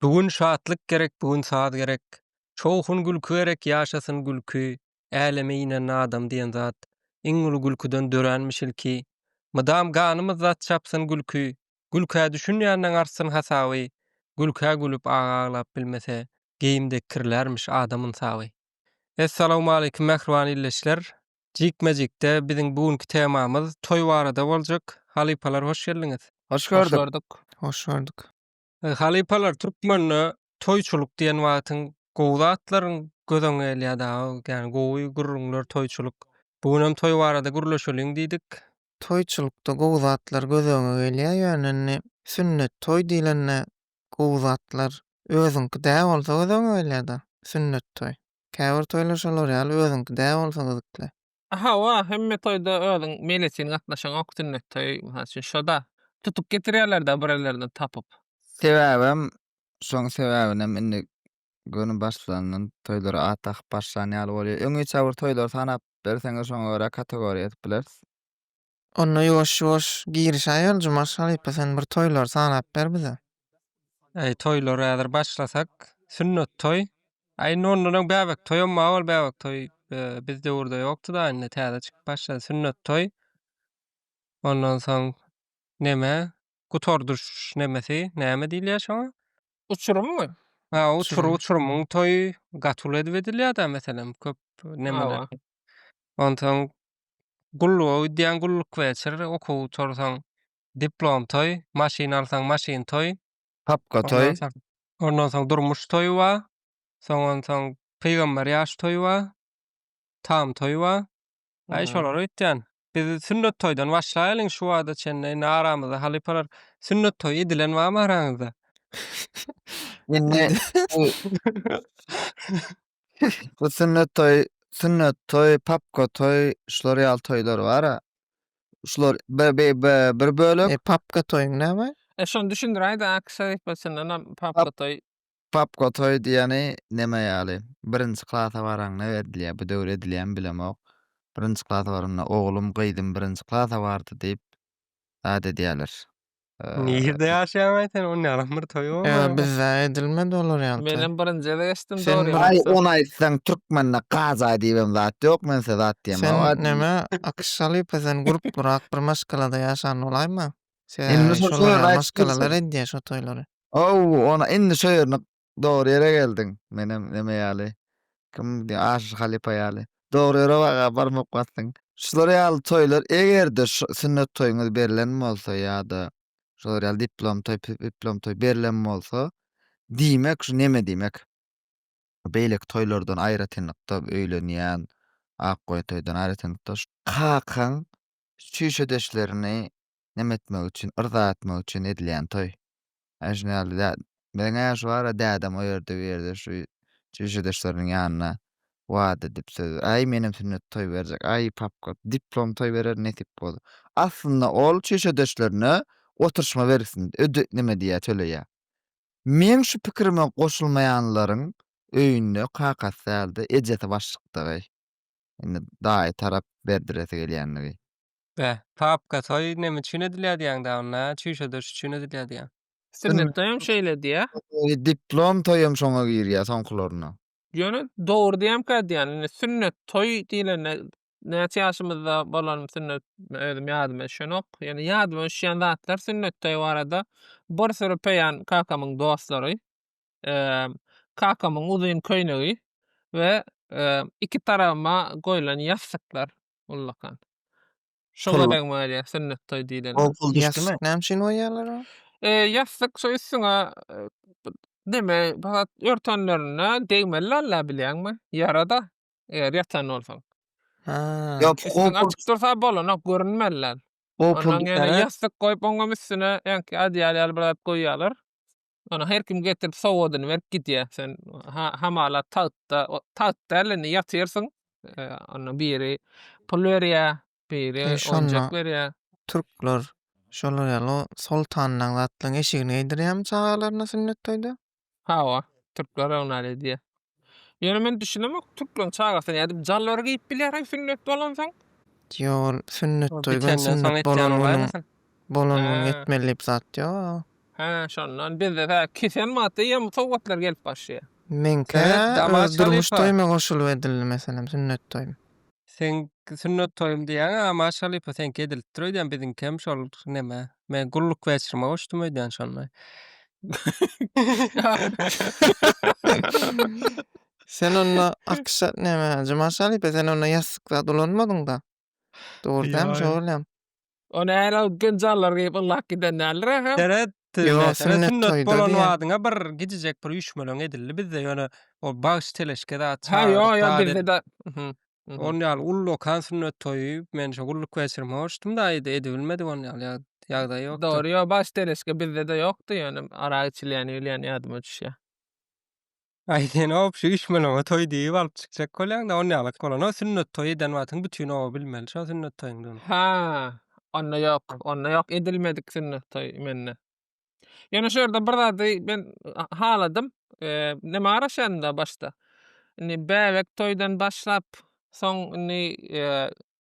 Bu gün şatlyk gerek bu gün saz gerek Şowhun gülki gerek ýaşasyn gülki Äleme inen adam diýen zat Iň uly gülküden döränmiş ilki Mydam ganymyz dat çapsyn gülki Gülkä düşünýänden artsyn hasaby Gülkä gülüp aga aglap bilmese Geýim dekkirlärmiş adam ynsaby. Essalawmaleýkim mähriban illeçiler! Jikme-jikde biziň bu günki temamyz toý barada boljak. Halypalar hoş geldiňiz! Hoş gördük! Hoş gördük! Halypalar türkmende toýçulyk diýen wagtyň gowy zatlaryň göz öňüne gelýär dagy. Ýagny gowy gürrüňler, toýçulyk. Bu gün hem toý barada gürleşeliň diýdik. Toýçulykda gowy zatlar göz öňe gelýär. Ýöne indi sünnet toý diýlende gowy zatlar özüňki dä bolsa göz öňe gelýär-de. Sünnet toý. Käbir toýlar şolar ýaly özüňki dä bolsa gyzykly. Hawa, hemme toýda özüň meýletin gatnaşaňok, sünnet toýy, mysal üçin, şo-da. Tutup getirýärler-dä birerlerinden tapyp. Sebäbem, şoň sebäbinem indi göni başlandan toýlara at dakyp başlan ýaly bolýar. Öňüçe bir toýlary sanap berseňiz, şoňa görä kategoriýa edip bileris. Onda ýuwaş ýuwaş girişäýeli Jumaş halypa sen bir toýlary sanap ber bize. Äý toýlar häzir başlasak sünnet toý a indi ondanam bäbek toýam bar ol bäbek toý biz döwürde ýokdyda indi täze çykyp başlady sünnet toý ondan soň neme gutardyş nemesi näme diýilýär şoňa Uçurymmy? ha uçur uçurymyň toýy gaty uly edip edilýärda meselem köp nemeler ondan soň Gulluga gidýäň, gulluk weçir, okuw gutarsaň, diplom toý, maşyn alsaň, maşyn toý. Papka toý. Ondan soň durmuş toýy bar. Soň onsoň pygamber ýaş toýy bar. Tam toýy bar. Aý şolara gitýän. Biz sünnet toýdan başlaýalyň şu wagta çenli. Indi aramyzda halypalar sünnet toýy edilen barmy araňyzda? Indi Bu sünnet toý, sünnet toý, papka toý, şular ýaly toýlar bar-a. Şular bi- bi- bi- bir bölek. E, papka toýuň näme? E şony düşündiräýdä AQŞ elipbasyndanam papka toý. Papka toý diýeni neme ýaly? Birinji klasa baraňda edilýär. Bu döwür edilýärmi bilemok. Birinji klasa baranda oglum, gyzym birinji klasa bardy diýip ad edýärler. Nirde ýaşaýaňaý sen on ýalym bir toýy bolmaýa. Ýa bizde edilmedi olar ýaly. Menem birinji gezek eşitdim dogry ýa. Aý ony aýtsaň türkmende kaza diýibem zat ýok men size zat diýem. Sen näme akyş şalypa sen gurp gurak bir maşgalada ýaşan bolaýma. Sen şolar maşgalalar edýä şo toýlary. Ow ony indi şo ýerini Dogry ýere geldiň. Menem neme ýaly. Kim diýen Aşyr halypa ýaly. Dogry ýere waga baryp okmapsyň. Şular ýaly toýlar eger-de sünnet toýuňyz berlen bolsa ýa-da şular ýaly diplom toý piplom toý berlen bolsa diýmek şu neme diýmek. Beýleki toýlardan aýratynlykda öýlenýän ak goýy toýdan aýratynlykda şu. Kakaň çüýşedeşlerini neme etmek üçin, yrza etmek üçin edilýän toý. Ýa şuny ýaly dä, meniň äşi bar-a, dädem o ýerde, bu ýerde şu çişedeşleriniň ýanynda wada edip, söz, Aý, menem sünnet toý berjek, aý, papka, diplom toý berer nesip bolsa. Aslynda ol çişedeşlerine oturyşma bergisini öde, neme diýýär, töleýär. Meň şu pikirime goşulmaýanlaryň öýünde kakasy däl-de, ejesi başlykdygy, indi daýy tarap berdiresi gelýändigi. Bä, papka toý neme üçin edilýär diýýäň da onda, çüýşe döş üçin edilýär diýýäň. Sünnet toýam şeýle diýýä. Diplom toýam şoňa girýä soňkularynda. Ýöne dogry diýemkä diýýän, indi sünnet toý diýlende näçe ýaşymyzda bolanym sünnet özüm ýadyma düşenok. Ýöne ýadyma düşýän zatlar sünnet toýy barada bir süri peýan kakamyň dostlary, kakamyň uzyn köýnegi we iki tarabyma goýlan ýassyklar. ullakan. Şoňa deň bolýar sünnet toý diýlende. Ol pul düşdümi? Ýassyk näme üçin goýýarlar ony? E, ýassyk şu üstüňe e, bir neme pahat örtenlerinde degmeli alla bilýäňmi? Ýara-da eger ýatan bolsaň. Ha. Ýok, o Üstüň pul, açyk dursa bolanok, görünmeli. o pul Ondan ýene düşer. ýassyk goýup oňam üstüne ýaňky adýal ýaly bir zat goýýarlar. Ony her kim getirip sowadyny berip gidýär. Sen hamala tagtda, tagt däl indi ýatyrsyň. E, onda biri pul berýär, biri onjak berýär. Türkler şolar ýaly soltanlaryň zatlaryň eşigini geýdirýärmi çagalaryna sünnet toýda? Hawa, türkler oňa edýär. Ýöne men düşünemok türkmen çagasyna nädip jalbar geýip bilýär sünnet bolansoň. Ýok ol sünnet toý bilen sünnet bolan günüň bolan günüň etmeli diýip zat ýok. Hä şondan bizde tä kesen wagtda ýa bu sowgatlar gelip başlaýar. Meňkä öz durmuş toýuma goşulyp edildi meselem sünnet toýum. Seň sünnet toýum diýýäň a Maş halypa seňki edilipdir öýdýän biziňki hem şol neme men gulluk weçrime goşdum öýdýän şonda. Sen onda akşa neme Maş halypa sen onda ýassyk zat ulanmadyňda. Dogry dämi Ýoý. soralýan. Ony äl alyp genjallar geýip yllap giden däldir ahyryn. Seret, Ýok, seret sünnet sünnet toýda bolan diýen. wadyňa bir gidijek bir üýşmeleň edildi bizde ýöne o bagş teleşke zat Ha ýo çagyrdyk ýo zat bizde edip de. Mhm. Mhm. on ýaly uly okan sünnet toýy men şo gulluk wäçirime borçdum da ýa-da edibilmedik on ýaly ýag- ýagdaý ýokdy. Dogry ýo bagş teleşke bizde de ýokdy ýöne arak içilýäni bilýän ýadyma düşýä. Aý sen op şu üýşmeleňe toý diýip alyp çykjak bolýaňda ol nälet bolany sünnet toýy eden wagtyň bütin oba bilmeli şo sünnet toýuňdygyny. Hä. Onda ýok. Onda ýok edilmedik sünnet toýy mende. Ýöne şu ýerde bir zady men haladym. Näme garaşýanda başda. Indi bäbek toýdan başlap soň indi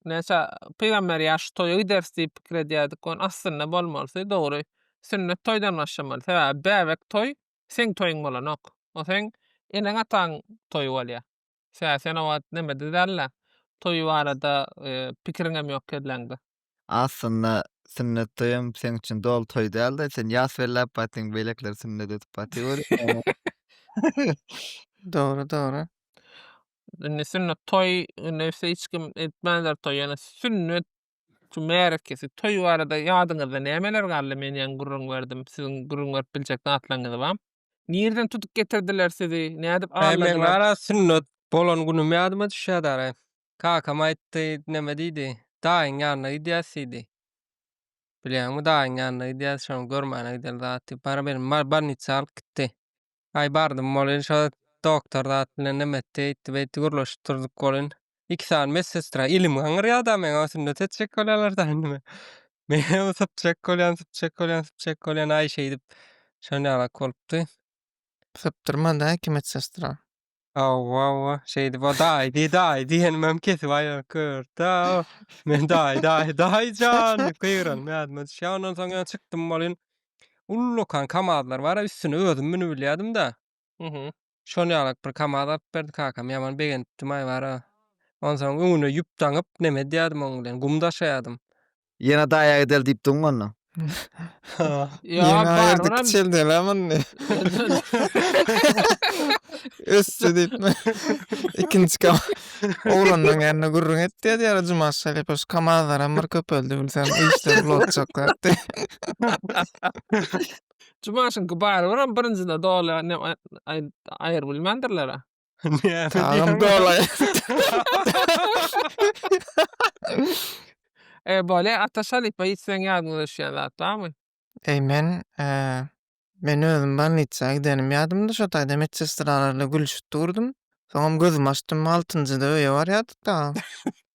näçe pygamber ýaşy toýa gideris diýip pikir edýärdik ony aslynda bolmalysy dogry sünnet toýdan başlamaly sebäbi bäbek toý Seň toýuň bolanok. O seň eneň-ataň toýy bolýa. Sä, sen o wagt nemede däl-le. Toýy barada pikiriňem ýok kelläňde. Aslynda sünnet toýam seň üçin doly toý däl-de, sen ýas belläp barýarsyň, beýlekiler sünnet edip barýar welin. Dogry, dogry. Indi sünnet toý, nebsi hiç kim etmändir toý, ýöne sünnet Şu märekesi, toý barada ýadyňyzda nämeler galdy? Men ýaňy gürrüň berdim. Siziň gürrüň berip biljek zatlaryňyz bar? Nireden tutup getirdiler sizi? Nädip Hä, meň alladylar? gara sünnet bolan günüm ýadyma düşýär dara. Kakam aýtdy, neme diýdi, Daýyň ýanyna gidýäs diýdi. Bilýäňmi, daýyň ýanyna gidýäs, şony görmäne gideli zat diýip, bara meni bolnitsa alyp gitdi. Aý bardym bolin şo doktor zat bilen neme etdi eýtdi beýtdi gürleşip durduk bolin. Iki sany medsestra ilim gaňyrýa da meň sünnet etjek bolýalar da indimi. Menem sypjak bolýan sypjak bolýan sypjak bolýan aý şeýdip şonýalak bolupdy. Sypdyrmady-a iki medsestra. Hawa, hawa, şeýdip o daýdy, daýy diýenim hem kesip aýryp görüpdi-ä. Men daýy, daýy, daýyjan diýip gygyranymy ýadyma düşýär. Ondan soň ýene çykdym welin, ullakan kamazlar bar-a, üstüne özüm münübilýädim-de. Mhm. Şol ýalak bir kamaz alyp berdi kakam, ýaman begenipdim-aý bar-a. Onsoň öňüne ýüp daňyp, neme edýärdim oň bilen, gum daşaýardym. Ýene daýaga del diýipdiň onda. Ýa bar olam. Çel dela muny. Ösdi diýipmi? Ikinji kam. Oglanlaryň ýanyna gürrüň et diýýär ýa Juma şalypa şu kamazlar hem bir köpeldi bilsem işler blotjak diýdi. Jumaşyňky bar olam birinjide doly aýryp bilmändirler-ä. Näme Tagym dolaýar. E, bolýar, Ataş halypa, hiç seň ýadyňa düşýän zat barmy? Eý, men, e, men özüm bolnitsa gidenim ýadymda, şo taýda medsestralarla gülüşip durdum. Soňam gözümi açdym, altynjyda öýe barýardyk dagy.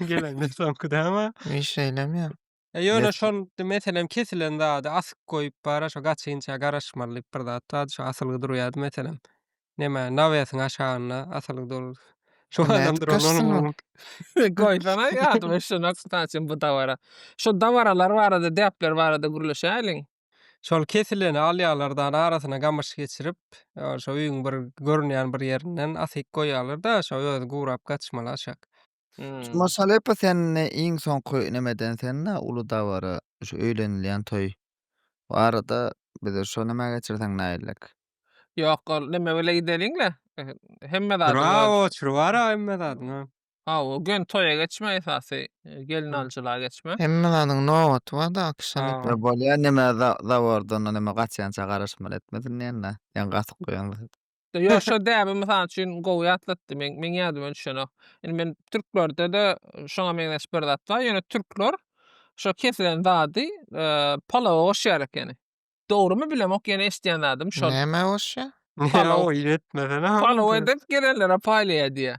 Gelende soňky däme. Wi şeýlem ýa. E ýöne şol meselem kesilen zady asyp goýup bara şo gaçynça garaşmaly diýip bir zat bar şo asylgy durýady meselem. Neme nawesiň aşagynda asylgy dur. Şo adam duran. Goýsana ýadyma şo nokta üçin bu dabara. Şo dabaralar barada depler barada gürleşäýliň. Şol kesileni alýarlar-da, arasyna gamyş geçirip, şo öýüň bir görünýän bir ýerinden asyp goýýarlar-da, şo özi gurap gatyşmaly aşak. Şu Maşalepa sende iň soňky nemeden sende uly dabara, şu öýlenilýän toý barada bize şo nämä geçirseň nägillik. Ýok, ol neme bile gideliň-le. Hemme zady. Bravo, çür bar-a hemme zadyň-a. Hawa, gelin toýa geçme esasy, gelin alyjylyga geçme. Hemme zadyň nobaty barda akşam Hawa. etmek. Bolýa näme za zabordan näme gaçýança garaşmaly etme diňleýänle ýaňy gatyk goýan zat. Ýok şo däbi mysal üçin gowy ýatlatdy meň meň ýadyma düşenok. Indi men türklerdede şoňa meňzeş bir zat bar ýöne türkler şo kesilen zady palawa goşýar ekeni. Dogrymy bilemok ýöne eşidýän zadym şol. Nämä goşýar? Palaw. Palaw edip gelenlere paýlaýar diýýär.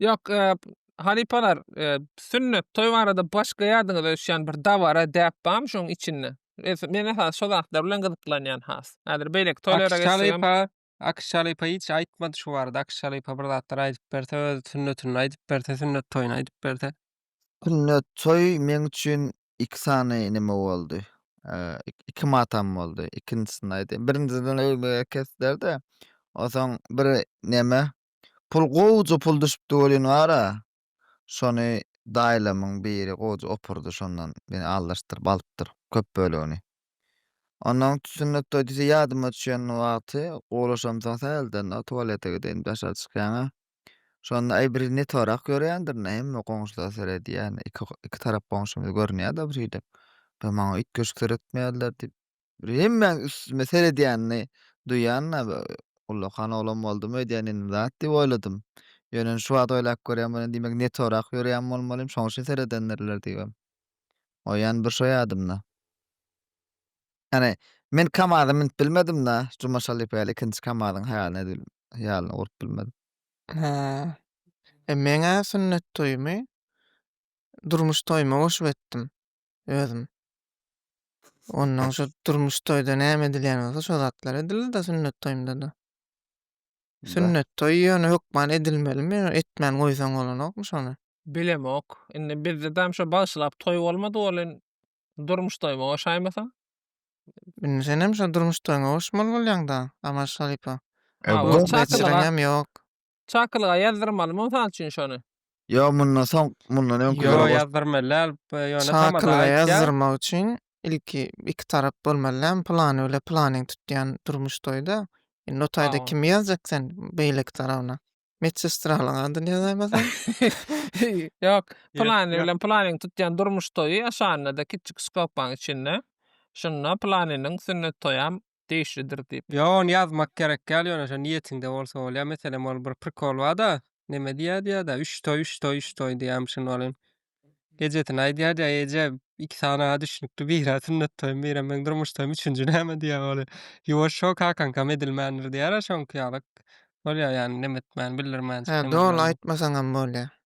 Ýok, halypalar, sünnet, toý barada başga ýadyňyza düşýän bir dabara, däp barmy şoň içinde? Men esasy şo zatlar bilen gyzyklanýan has. Häzir beýleki toýlara geçsegem. Akyş halypa, Akyş halypa hiç aýtmady şu barada. Akyş halypa bir zatlar aýdyp berse, öz sünnetini aýdyp berse, sünnet toýuny aýdyp berse. Sünnet toý meň üçin iki sany neme boldy. Iki matam boldy. Ikinjisini aýdaýyn. Birinjisini öýüme getirdiler-de, onsoň bir neme, Pul gowja pul düşüpdi welin gara. Şony daýlamyň biri gowja opurdy şondan ýene aldyryşdyryp alypdyr köp bölegini. Ondan sünnet toý diýse ýadyma düşen wagty gowlaşamsoň sähelden tualete gideýin daşary çykýaňa. Şonda aý bir ne torak ýörýändir ne hemme goňşular seredýär iki iki tarap goňşymyz görünýär-de birhili. Maňa üýtgeşik seretmeýärler diýip. Bir hemmäň üstüme seredýänini duýan-da, ullakan oglan boldumy öýdýän indi zat diýip oýladym. Ýöne şu wagt oýlap görýän bolýan, diýmek netorak ýörýän bolmalym, şoň üçin seredendirler diýibem goýýan bir şo ýadymda. Ýagny men kamaza münüp bilmedim-de, Juma Şalypa ýaly ikinji kamazyň haýalyny edip haýalyny gurup bilmedim. Hä. E meň-ä sünnet toýumy durmuş toýuma goşup etdim. özüm. Ondan şu durmuş toýda näme edilýän bolsa şo zatlar edildi-de sünnet toýunda-da. Sünnet toýy ýöne hökman edilmelimi, etmän goýsaň bolanokmy şony? Bilemok. Indi bizde dam şo bagşylap toý bolmady welin, durmuş toýuma goşaýmasaň? Indi senem şo durmuş toýuňa goşmaly bolýaň-da, Aman Şarypa. Ýok, ýok. Çakylyga ýazdyrmalymy mysal üçin şony? Ýok mundan soň mundan öňküleri Ýok goş. ýazdyrmaly däl b- ýöne tamada Çakylyga aýtýar. ýazdyrmak üçin ilki iki tarap bolmaly dälmi pylany bile pylanyň tutýan durmuş toýda indi o taýda Hawa. kimi ýazjak sen beýleki tarabyna medsestralyň adyny ýazaýmasaň Ýok pylany ýok. bilen pylanyň tutýan durmuş toýy aşagynda-da kiçi skobkaň içinde şunda pylanynyň sünnet toýam degişlidir diýip. Ýok ony ýazmak gerek däl ýöne şo niýetiňde bolsa bolýa meselem ol bir prikol barda neme diýýä diýýädä üç toý üç toý üç toý diýýämiş şunda welin ejesine aýdýa diýýä eje iki sany a düşnükli bira sünnet toýum bira meň durmuş toýum üçünji näme diýýä welin ýuwaş şo kakaňkam edilmändir diýýärä şoňky ýalyk bolýa ýagny neme etmän bildirmän şeýle. He dogryny aýtmasaňam bolýa.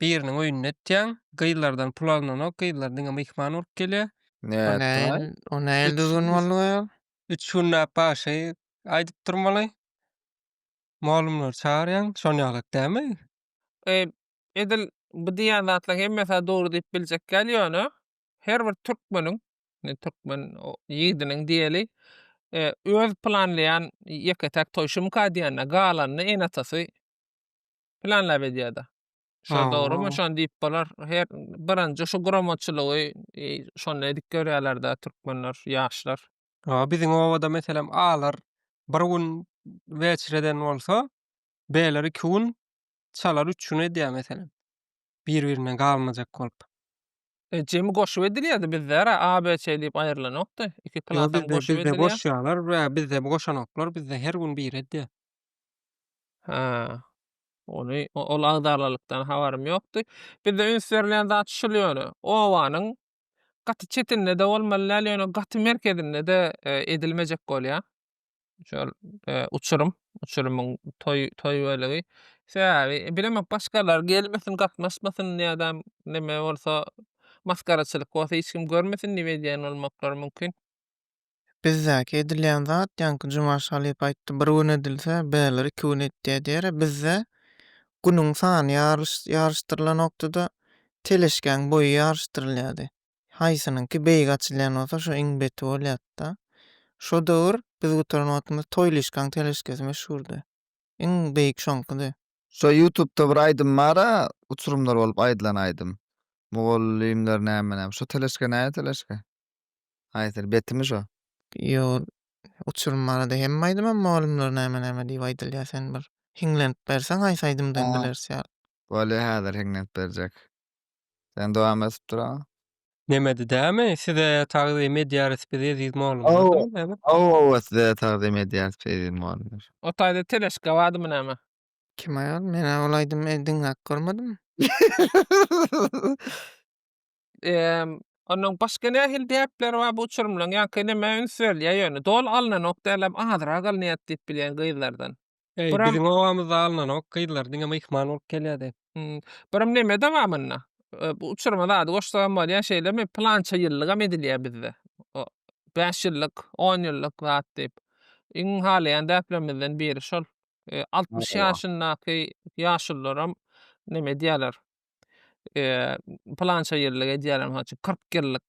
biriniň öýünde etýäň. Gyzlardan pul alnanok, gyzlar diňe myhman bolup gelýär. O nähili, o nähili düzgün boldy we ol? Üç günläp bagşy aýdyp durmaly. Mugallymlary çagyrýaň, şon ýalak dälmi? E, edil bu diýýän zatlar hemmesi-ä dogry diýip biljek däl, ýöne her bir türkmeniň, indi türkmen ýigdiniň diýeli, e, öz planlaýan ýeke-täk toýy, şumyka diýende galanyny ene-atasy planlap edýärdi. Şo dogrymy? Şony diýip bolar. Her birinji şu guramaçylygy e, şonda edip görýärler-de türkmenler, ýaşlar. Ha, biziň obada meselem alar bir gün weçreden bolsa, beýler iki gün, çalar üç gün edýär meselem. bir-birinden galmajak bolup. E, jemi goşup edilýärdi bizde-ra ABC diýip aýrylanokdy. Iki Ýo plat hem bizde goşup bizde edilýär. goşýarlar we bizde goşanoklar bizde her gün biri edýär. Ha. Ony o- ol agdarlylykdan habarym ýokdy. Bizde üns berilýän zat şul ýöne. Obanyň gaty çetinde-de bolmaly däl, ýöne gaty merkezinde-de e, edilmejek bolýar. şol e, uçurum, uçurumyň toý toý bölegi. Sebäbi bilemok başgalar gelmesin, gatnaşmasyn ýa-da neme bolsa maskaraçylyk bolsa hiç kim görmesin diýip edýän bolmaklary mümkin. Bizdäki edilýän zat, ýaňky Jumaş halypa aýtdy, bir gün edilse, bäler iki gün etýär diýere, bizde günüň sany ýaryş ýaryşdyrylanokdy-da, teleşkäň boýy ýaryşdyrylýardy. Haýsynyňky beýik açylýan bolsa şo iň beti bolýardy-da. Şo döwür biz gutaran wagtymyz Toýlyşkaň teleşkesi meşhurdy. Iň beýik şoňkydy. Şo ýutubda bir aýdym bar-a, uçurymlar bolup aýdylan aýdym. Mugallymlar näme näme. Şo teleşke näme teleşke? Haýsyny? Betimi şo? Ýok. Uçurym barada hemme aýdymam Mugallymlar näme näme diýip aýdylýar. Sen bir hiňlenip berseň haýsy aýdymdan bileris ýaly. Bolýa häzir hiňlenip berjek. Sen dowam edip dur aga. Nemedi dämi? Size tagzym edýäris biz eziz mugallymlar Aw. diýip näme? Aw aw size tagzym edýäris eziz mugallymlar. O taýda teleşka bardymy näme? Kim aýal? Men-ä ol aýdymy e, diňläp görmedim. Emm, onuň başga nähili däpleri bar bu uçurymlaryň? Ýaňky nämä üns berilýär ýöne? Doly alnanok dälem, azrak alynýar diýip bilýän gyzlardan. Eý, Buram- biziň obamyzda alnanok, gyzlar diňe myhman bolup gelýärdi. Hmm, Birim neme dowamynda? E, Bu uçurma zady goşsagam bolýar, şeýlemi? Pylança ýyllygam edilýär bizde. O, Bäş ýyllyk, on ýyllyk zat diýip. Iň halaýan däplerimizden biri şol. E, Altmyş Maşallah. ýaşyndaky ýaşulularam neme edýärler. E, Pylança ýyllyk edýärler, mysal üçin, kyrk ýyllyk.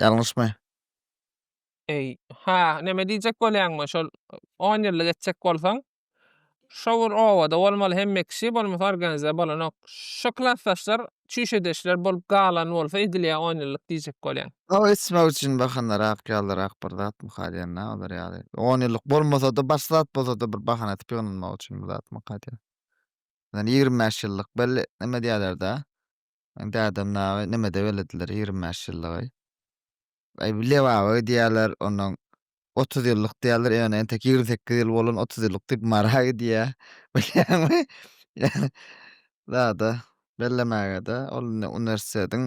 Ýalňyşmy? Eý, ha, näme diýjek bolýaňmy, şol on ýyllyk etjek bolsaň, şo bir obada bolmaly hemme kişi, bolmasa organize bolanok. Şo klasdaşlar çüýşedeşler bolup galan bolsa edilýä on ýyllyk diýjek bolýaň. Ol etmek üçin bahanarak ýalyrak bir zatmy kalýanda olar ýaly. On ýyllyk bolmasada başga zat bolsada bir bahana edip ýygnanmak üçin bir zatmy kalýa. Ýöne ýigrimi bäş ýyllyk belli näme diýerlerde. Dädem naga nemede belediler ýigrimi bäş ýyllygy. Aý bu lebaba gidýäler onnoň otuz ýyllyk diýýäler ýöne entek ýigrimi sekiz ýyl bolan otuz ýyllyk diýip mara gidýä bilýäňmi ýöne zada bellemägede ol indi uniwersitetiň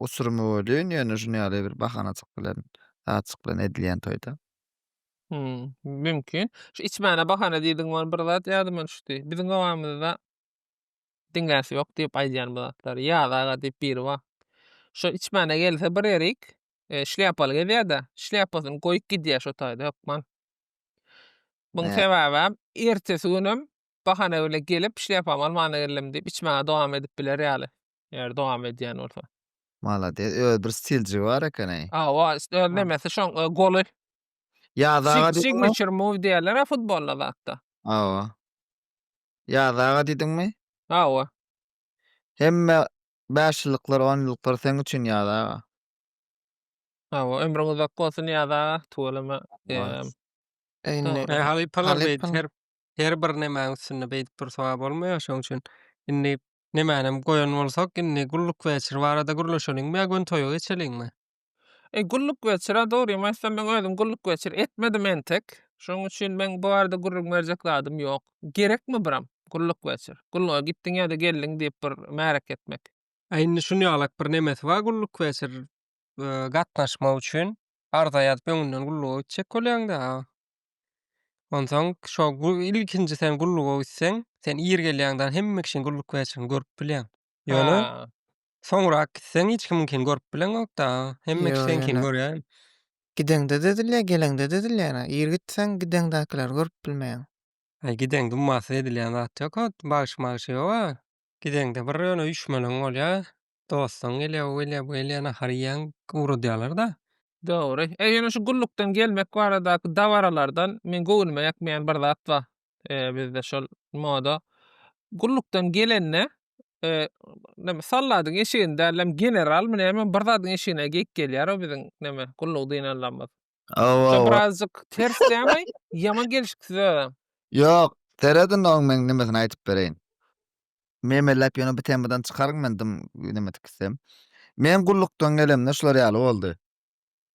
uçurymy welin ýöne şuny ýaly bir bahanajyk bilen zatjyk bilen edilýän toýda. Hum mümkin. Şu içmäne bahana diýdigiň ol bir zat ýadyma düşdi. Biziň obamyzda Diňläsi ýok diýip aýdýan bu zatlary. Ýaz aga diýip biri bar. Şo içmäne gelse bir erik, e, şlýapaly gezýär-de, şlýapasyny goýup gidýär şo taýda hökman. Muň Hä. sebäbem ertesi günem bahana bile gelip şlýapamy almana geldim diýip içmäge dowam edip biler ýaly. Eger dowam edýän bolsa. Malades. Öz bir stiljigi bar eken-eý. Hawa, öz nemesi şoň e, goly. Ýaz aga Sig- diýip ona- Signature move diýerler-ä futbolda zatda. Hawa. Ýaz aga diýdiňmi? Hawa. Hemme bäş ýyllyklar, on ýyllyklar seň üçin Ýaz aga. Hawa, ömrüň uzak bolsun Ýaz aga, tüweleme. Eee. Indi Eee, halypalar beýdip Halypam. her her bir nemäň üstünde beýdip dursaga bolmaýar, şonuň üçin indi nemänem goýan bolsak, indi gullukweçir barada gürleşeliňmi ýa gün toýa geçeliňmi? E, gulluk geçir, a dogrymy aýtsam, men özüm gulluk geçir etmedim entek. Şonuň üçin meň bu barada gürrüň berjek zadym ýok. Gerekmi biram gulluk geçir, gulluga gitdiň ýa-da geldiň diýip bir märek etmek? A indi şuny ýalak bir nemesi bar gulluk geçir gatnaşmak üçin arza ýazyp öňünden gulluga gitjek bolýaň-da. Onsoň şo ilkinji sen gulluga gitseň, sen ir gelýäňdan hemme kişiň gulluk geçirini görüp bilýäň. Ýöne soňrak gitseň hiç kim kin görüp bileňokda. Hemme kişi sen kin görýär. Gideňde dedilýär, geleňde dedilýär. Ir gitseň gideňdäkileri görüp bilmeýäň. Aý gideň dummasy edilýän zat ýok. Bagşy magşy ýoga. Gideňde bir ýöne üýşmeleň bolýar. Dostuň gelýär, o gelýär, bu gelýär, nahar iýýäň, ugradýarlar-da. Dogry. Ýöne şu gullukdan gelmek baradaky dabaralardan meň göwnüme ýakmaýan bir zat bar. Eee, bizde şol moda. Gullukdan gelende, eee, näme, soldadyň eşigini dälem, generalmy näme, bir zadyň eşigine geýip gelýär o biziň, näme, gullugy dyn allamyz. Hawa, Şo hawa. birazjyk ters dälmi? Ýaman gelşiksiz özem. Ýok, seredin oň men nemesini aýdyp bereýin. Memelläp ýöne bu temadan çykaryn men dym nemedik gitsem. Men gullukdan gelemde şular ýaly boldy.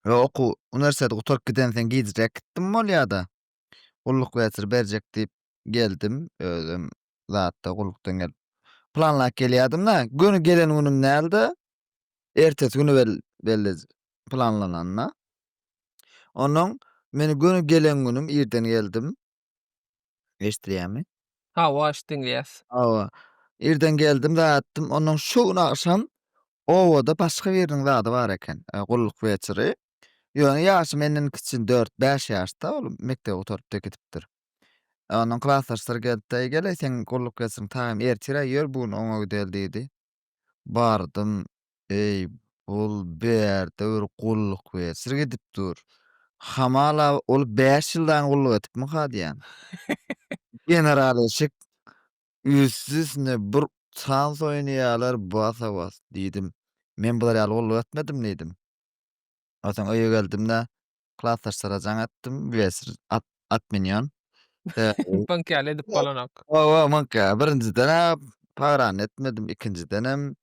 Ýa okuw, uniwersitet gutaryp gidensen gijräk gitdim bolýa-da. Gulluk weziri berjek diýip geldim. Özüm zatda gullukdan gelip planlap gelýärdim-de, göni gelen günüm däldi. Ertesi güni belli planlananda. Onnoň men göni gelen günüm irden geldim. Eşidilýärmi? Hawa, eşit diňleýäs. Hawa. Irden geldim, ýatdym. Onnoň şu gün agşam obada başga biriniň zady bar eken, gulluk weziri. Ýöne ýaşy menden kiçi, dört-bäş ýaşda ol mekdebi gutaryp-da gidipdir. Onuň klasdaşlary gelip-de, Eý, gel-eý, seň gulluk geçiň, taýym ertir-ä ýör, bu gün oňa gideli diýdi. Bardym. Eý, bul bärde bir gulluk geçir gidip dur. Hamala, ol bäş ýyl daýyn gulluk etipmikä diýýän. General eşik, üsti-üstüne bir tans oýnaýarlar, basa-bas diýdim. Men bular ýaly gulluk etmedim diýdim. Onsoň öýe geldim-de, klasdaşlara jaň atdym, bilesiz, at, at münýän. Mıňk ýaly edip bolanok. Oba, mıňk ýaly. Birinjiden-ä pagrany etmedim, ikinjidenem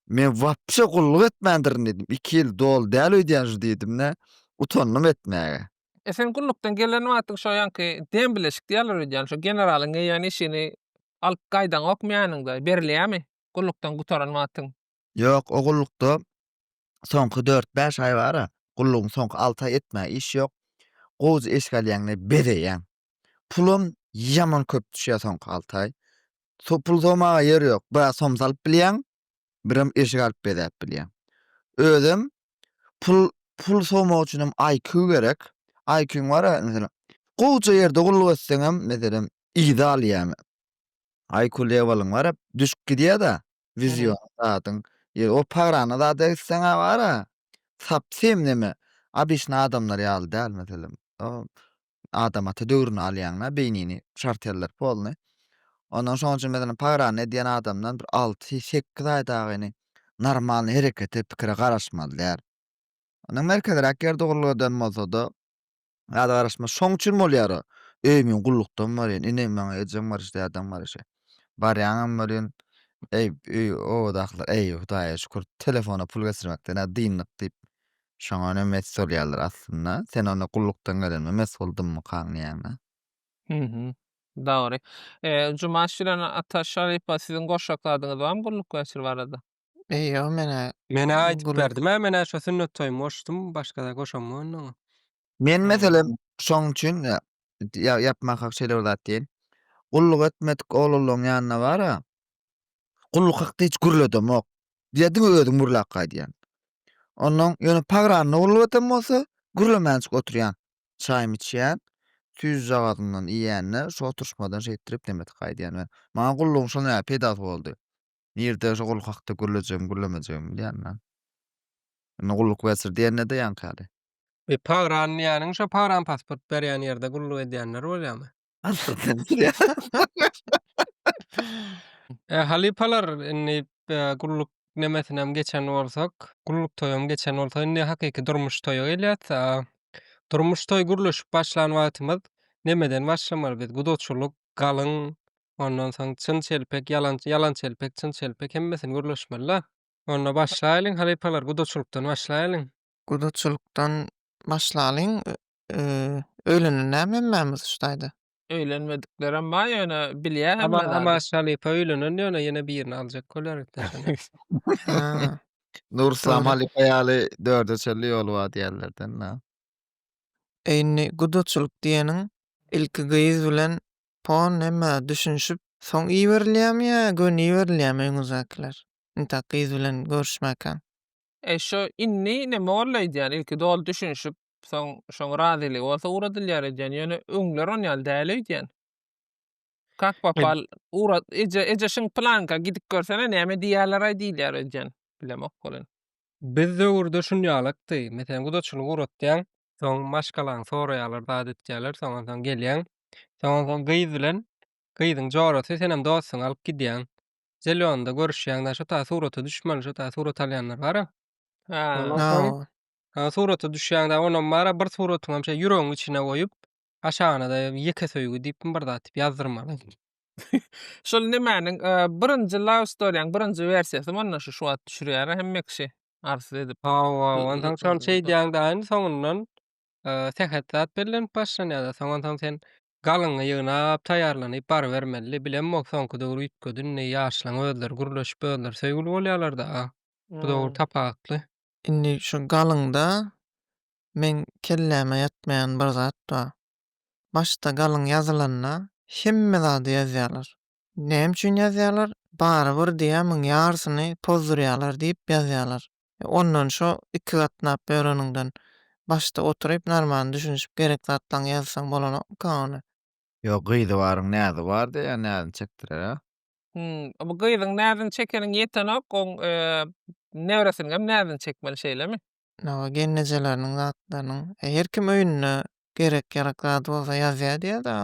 men wapşe gulluk etmändirin diýdim. Iki ýyl doly däl öýdýän şu diýdim-de, utandym etmäge. E sen gullukdan gelen wagtyň şo ýaňky dem bileşik diýýärler öýdýän, şo generalyň eýýän işini alyp gaýdaňokmy ýanyňda, berilýärmi gullukdan gutaran wagtyň? Ýok, o gullukda soňky dört-bäş aý bar-a, gullugyň soňky alty aýy etmäge iş ýok. Gowja eşik alýaňda bezeýäň. Pulam ýaman köp düşýär soňky alty aý. Pul sowmaga ýer ýok. Biraz som salyp bilýäň, birem eşik alyp bezäp bilýäň. Özem pul pul sowmak üçinem IQ gerek. IQ-ň bar-a, meselem, gowja ýerde gulluk etseňem, meselem, yza alýar. IQ lewalyň bar-a, düşüp gidýär-de, Wideonyň zadyň ýeri ol pagrana zada gitseňä bara sapsym neme obyçny adamlar ýaly däl meselem adam ata döwrüni alýaň da beýnini şarteller polny ondan şoň üçin meselem pagrana edýän adamdan bir alty sekiz aýdagyny normalny herekete pikire garaşmaly däl. Ony merkezräk ýerde gurladan bolsada Zada garaşmaz. Şoň üçin bolýar-a. Öýümiň gullukdan barýan, inim maňa ejeň baryş, dädeň baryş. Barýaňam welin, eý, öý, obadakylar, eý, Hudaýa şükür, telefona pul geçirmekden-ä dyndyk diýip, şoňa önem mes bolýarlar aslynda. Sen onda gullukdan gelenime mes boldummykaň diýýäň-ä. Hü-hü. Dogry. Jumaş bilen Ataş halypa, siziň goşjak zadyňyz barmy gulluk geçir barada? Eý ýo menä Menä aýdyp Gürrüň- berdim-ä menä şo sünnet toýumy goşdum başgada goşammy onda oňa. Men meselem şoň üçin ýa ýa ýapmak hak şeýle bir zat diýen. Gulluk etmedik oglanlaň ýanyna bar-a, gulluk hakda hiç gürledemok. Diýýä diňe özüň gürläp gaýdýan. Onnoň ýöne pagranda gulluk eden bolsa gürlemänçik oturýan. Çaýmy içýän, süýjüjagazymdan iýende şu oturyşmadan şeýtdirip nemetik gaýdýan we maňa gullugyň şonda ýaly peýdasy boldy. Nirde şo gulluk hakda gürlejegimi, gürlemejegimi bilýän men. Indi gulluk bertir diýende-de ýaňky Bir pagrany diýýäniň şo pagran pasport berýän ýerde gulluk edýänler bolýamy? E, halypalar, indi gulluk nemesinem geçen bolsak, gulluk toýam geçen bolsa, indi hakyky durmuş toýa gelýäs. Durmuş toý gürleşip başlan wagtymyz nemeden başlamaly biz? Gudaçylyk, galyň, ondan soň çyn-çelpek, ýalançy, ýalan-çelpek, çyn-çelpek hemmesini gürleşmeli-dä. Onda başlaýlyň, halypalar, gudaçylykdan başlaýlyň. Gudaçylykdan başlalyň. Öýlenen näme hemmämiz şu taýda? Öýlenmediklerem bar, ýöne bilýär hemme zady. Amaş halypa öýlenen, ýöne ýene birini aljak bolýar enteşende. Nuryslam halypa ýaly dörde çenli ýoly bar diýýärler-de indi. Eý indi gudaçylyk diýeniň ilki gyz bilen po neme düşünişip soň iberilýämi ýa göni iberilýämi öňüňizdäkiler intak gyz bilen görüşmäkäň. Eý şo indi neme boldy aýdýan ilki doly düşünişip soň şoň razylygy bolsa ugradylýar edýän ýöne öňler on ýaly däl öýdýän. Kak papal ugrat eje eje şiň planka gidip görsene näme diýýärleraý diýilýär öýdýän bilemok welin. Biz döwürde şunýalykdy. Meselem, gudaçylygy uratýaň. Soň maşgalaň soraýarlar, zat etýärler. Soň onsoň gelýäň. Soň onsoň gyz bilen gyzyň jorasy senem dostuňy alyp gidýäň. Zelýonda görüşýäň. Na şo ta surata düşmeli, şo ta surat alýanlar bar-a. Ondan soň. Surata düşýäň-de, onam bar-a, bir suratyňam şeý ýüregiň içine goýup, Aşagynada ýeke söýgi diýipmi bir zat diýip ýazdyrmaly. Şol nemäniň birinji love storyň birinji wersiýasy mundan şu şu wagt düşürýär hemme kişi arzuw edip. Hawa, onsoň şony şeýdýäň daýyny soňundan sähet zat bellenip başlanýada soňon soň sen galyňy ýygnap taýýarlanyp barybermeli bilen bol soňky döwür üýtgedi indi ýaşlaň özleri gürleşip özleri söýgüli bolýalarda bu döwür tapawutly. Indi şu galyňda meň kelläme ýatmaýan bir zat bar. Başda galyň ýazylanda hemme zady ýazýarlar. Näme üçin ýazýarlar? Barybir diýýärmiň ýarysyny pozdurýarlar diýip ýazýarlar. Ondan şo iki gatnap ýöreniňden başda oturyp narman düşünişip gerek zatlaňy ýazsaň bolanokmyka ony? Ýok gyzy baryň näzi bar diýýär näzini çekdirer a. Hum bu gyzyň näzini çekeniň ýetenok oň nebresiniňem näzini çekmeli şeýlemi? Hawa, gelnejeleriniň zatlarynyň. Her kim öýünde gerek-ýarak zady bolsa ýazýar diýýär-de,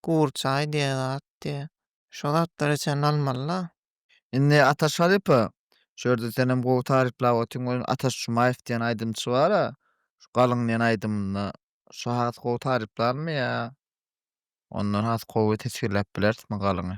gur çaý diýen zat diýýär. Şo zatlary içende almaly-la. Indi Ataş halypa, şu ýerde senem gowy taryplap otyň welin Ataş Jumaýew diýen aýdymçy bar-a, şu Galyň diýen aýdymynda. Şo has gowy taryplarmy ýa ondan has gowy teswirläp bilerismi Galyňy?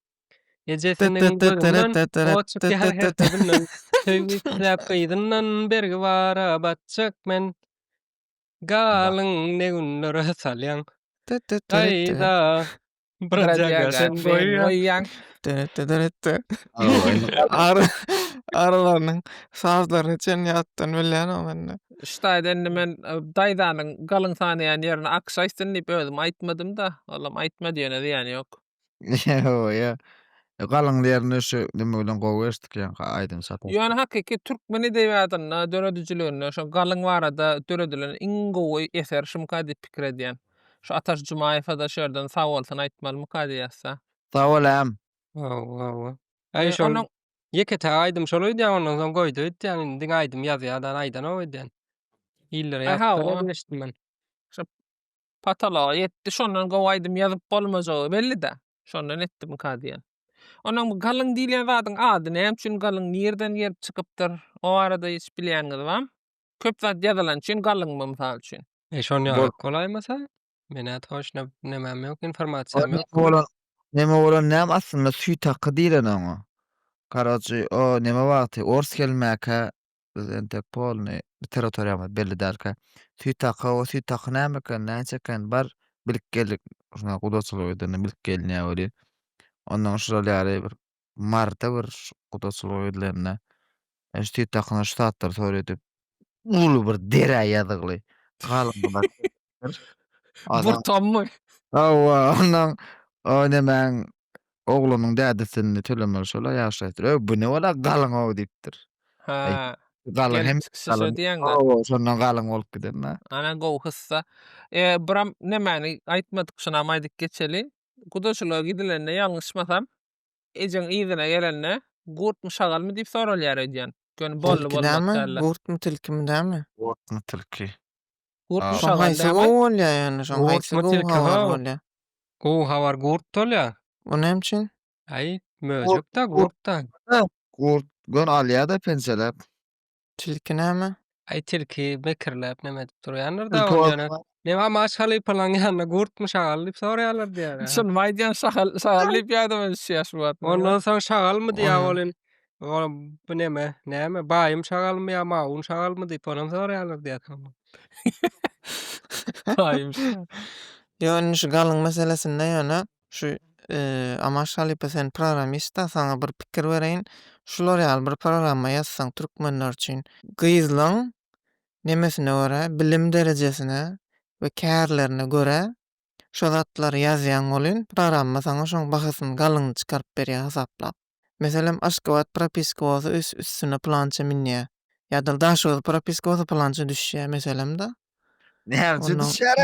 Ejesiniň gözünden ot çykýar her sözünden. Söýgi isläp gyzyndan bergi bara batjak men. Galyň ne günlere salýaň gaýda. Bradýaga sen goýýaň. Arylarynyň sazlaryny çen ýatdan bilýänim indi. Şu taýda indi men daýzanyň galyň sanaýan ýerini akşaýsyn diýip özüm aýtmadym-da. Olam aýtmady ýöne zyýany ýok. Ýa-ýa. E, galyň ýerini şu neme bilen gowy eşitdik ýaňky aýdym sapar. Ýöne hakyky türkmen edebiýatynda, döredijiliginde şo galyň barada döredilen iň gowy eser şumyka diýip pikir edýän. Şu Ataş Jumaýewa-da şu ýerden sag bolsun aýtmalymyka diýýäs-dä. Sag bol äm. Hawa, hawa. Aý E, şol onuň ýeke-täk aýdym şol öýdýän ondan soň goýdy öýtýän indi diňe aýdym ýazýa-da aýdanok öýdýän. Illere Aý, hawa. ýazsalar eşitdim men. Pataloga ýetdi, şondan gowy aýdym ýazyp bolmajagy belli-dä. Şondan etdimika diýen. Ondan bu galyň diýilýän zadyň ady näme üçin galyň, nireden gelip çykypdyr, o barada hiç bilýäniňiz bamy? Köp zat ýazylan üçin galyňmy, mysal üçin? E şon ýaly bolaýmasa? Menä toçna nemem ýok, informasiýam ýok. Neme bolan, neme bolan näme aslynda süýt haky diýlen oňa. Karoçi o neme wagty ors gelmäkä Biz entek polny bir territoriýamyz belli dälkä. Süýt haky, o süýt haky näme eken, näçe eken, bar bilip geldik. Şuna gudaçylyk edende bilip geliniýär welin. Ondan şural ýaly bir marta bir gudaçylyk edilende e, şu süýt hakyna şu saatlar sor edip uly bir derä ýazygly galyndylar. Adam Burtammy? Hawa, ondan o nemäň oglunyň dädesini tölemeli şola ýaşy aýtdyr. Öý, bu ne bala galyň-ow diýipdir. Ha. Galyň Gel, hem şişe galyň. diýeňdä. Hawa, şondan galyň bolup gidenna. Ana gowy hyssa. E, buram nemäni aýtmadyk, şunam aýdyp geçeli. Gudaçylyga gidilende ýalňyşmasam, ejeň yzyna gelende, gurtmy, şagalmy diýip soralýar öýdýän. Göni bolly Tilki näme? bolmaz däller. Gurtmy, tilkimi näme? Gorkma tilki. Gurt mu şagal dämi? Şoň haýsy gowy bolýar ýöne şoň haýsy gowy habar bolýar? Gowy habar gurt bolýar. O näme üçin? Aý möjekda gurtda. Gurt gön alýada pençeläp. Tilki näme? Aý tilki mekirläp näme edip durýandyr da ýöne. Näme maş halypalaň ýanyna gurt mu şagal diýip sorýarlar diýýär. Şuny aýdýan şagal şagal diýip ýadyma düşýär şu wagt. Ondan soň şagal mu diýýär ol in. Oňa bu neme, näme, baýym şagalmy ýa mawun şagalmy diýip onam soraýarlar diýýärkan. Baýym şagal. Ýok, indi şu galyň meselesinde ýöne şu Amaş halypa sen programmist-da, saňa bir pikir bereýin. Şular ýaly bir programma ýazsaň türkmenler üçin gyzlaň nemesine görä, bilim derejesine we kärlerine görä şo zatlary ýazýaň welin programma saňa şoň bahasyny galyňyny çykaryp berýär hasaplap. Meselem, Aşgabat propiska bolsa üs üstüne plança minýä. Ýa-da Daşoguz propiska bolsa plança düşýä, meselem-da. Näçe düşýär?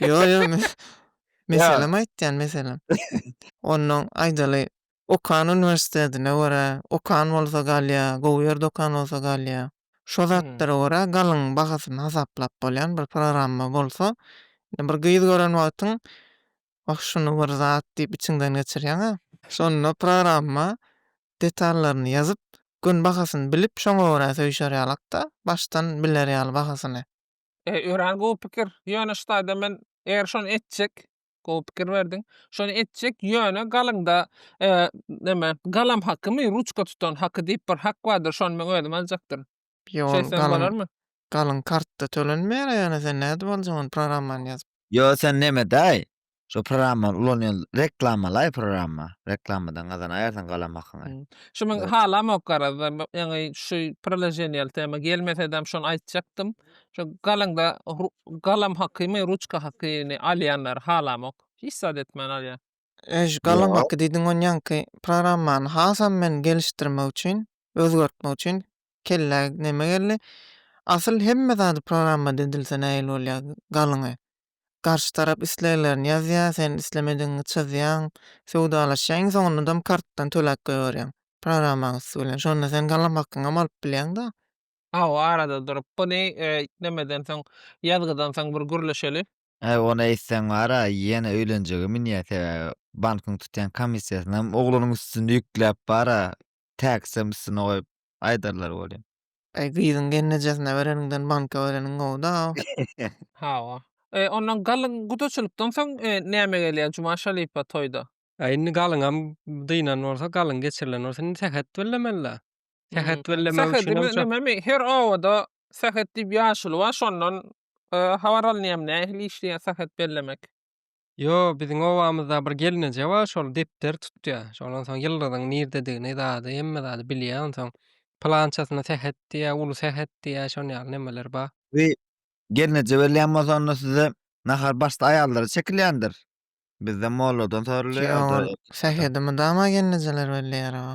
Ýo, ýo, meselem aýtýan, meselem. Onnoň aýdaly, okan uniwersitetine görä, okan bolsa galýa, gowy ýerde okan bolsa galýa. Şo zatlara görä galyň bahasyny hasaplap bolýan bir programma bolsa, bir gyz gören wagtyň Oh şuny bir zat diýip içiňden geçirýäňä. Şonda programma detallaryny ýazyp, gün bahasyny bilip şoňa görä söýşer ýalakda, başdan biler ýaly bahasyny. Eý örän gowy pikir, ýöne ştaýda men eger şony etjek, gowy pikir berdiň, şony etjek, ýöne galyňda neme, galam hakymy, ruçka tutan haky diýip bir hak bardyr, şony men özüm aljakdyryn. Ýol galyň galyň kartda tölenmeýär ýöne sen nädip aljak ony programmany ýazyp. Ýo sen nemedaý şo programmany ulanýan reklamalaý programma reklamadan gazanaýarsyň galan hakyňy. Şu men halamok garazda ýaňy şu proloženiýaly tema gelmesedem şony aýtjakdym şo galyňda galam hakymy ruçka hakyny alýanlary halamok hiç zat etmän alýar. Öj galangaky diýdiň onýanky programmany hasam men gelişdirmek üçin, özgertmek üçin kellä neme geldi. Asyl hemme zady programma dedilse nähili bolýa galyňy. Garşy tarap isleglerini ýazýa, sen islemedigiňi çyzýaň, söwdalaşýaň, iň soňundam kartdan töläp goýberýäň programmaň üsti bilen. Şonda sen galangakyňam alyp bilýäň-da. Hawa arada durup, bu ne, nemedensoň, ýazgydansoň bir gürleşeli. Äý ony eýtseň bara ýene öýlenjege münýä sebäbi bankyň tutýan komissiýasynam oglunyň üstüne ýükläp bara täksem üstüne goýup aýdarlar welin. Äý gyzyň gelnejesine bereniňden banka bereniň gowuda. Hawa. E, ondan galyň gudaçylykdan soň näme gelýär Juma Şalipa toýda? Äý indi galyňam dynan bolsa, galyň geçirilen bolsa indi sähet bellemeli-dä. Sähet bellemek üçinem şo. Sähedi neme her obada sähet diýip ýaşuly bar şondan Habar alynýam nähili işleýär sahat bellemek. Ýo biziň obamyzda bir gelneje bar şol depder tutýa şondan soň ýyldyzyň nirdedigini zady hemme zady bilýä onsoň pylançasyna sähet diýýä uly sähet diýýä şon ýaly nemeler bar. Bi gelneje berilýän bolsa onda size nahar başda aýallara çekilýändir bizde molladan sorulýa ýa-da Ýoga sähedi mydama gelnejeler belleýär oba.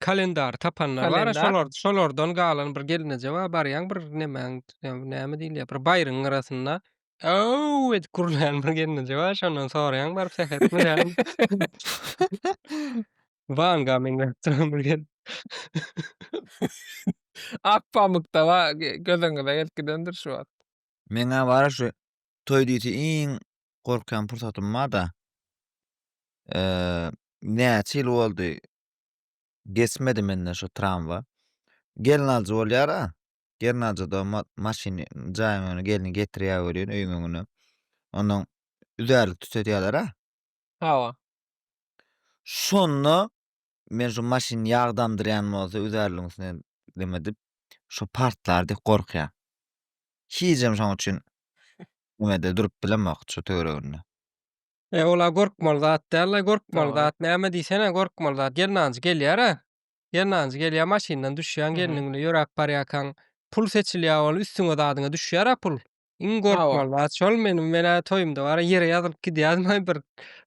Kalendary tapanlar bar, şolar şolardan galan bir gelneje bar, barýaň bir nemäň, näme diýilýär, bir baýryň gyrasynda Aw! edip gürleýän bir gelneje bar, şondan soraýaň baryp sähetmi, näme? Wanga meňzäp duran bir gel. Ak pamykda ba, gözüňize gelip gidendir şu wagt. Meň-ä bar-a şu toý diýse iň gorkýan pursatym bar-da. Näçe ýyl boldy, Geçmedi menden şo tramwa. Gelin aljy bolýara. Gelin aljyda maşyny jaýyň öňüne gelni getirýär welin öýüň öňüne. Ondan üzärlik tütetýärler-ä. Hawa. Şonda men şu maşyny ýag damdyrýan bolsa üzärligiň üstüne neme dip şo partlar diýip gorkýan. Hijem şoň üçin neme-de durup bilemok şo töwereginde. E, ola gorkmaly zat däl-le, gorkmaly zat näme diýsene, gorkmaly zat. Gelnanjy gelýär-ä. Gelnanjy gelýär, maşyndan düşýäň, gelniň bilen ýöräp barýarkaň, pul seçilýär ol, üstüňe zadyňa düşýär-ä pul. Iň gorkmaly zat şol. Meniň, men-ä toýumda bar-a, ýere ýazylyp gidýädim, aý, bir,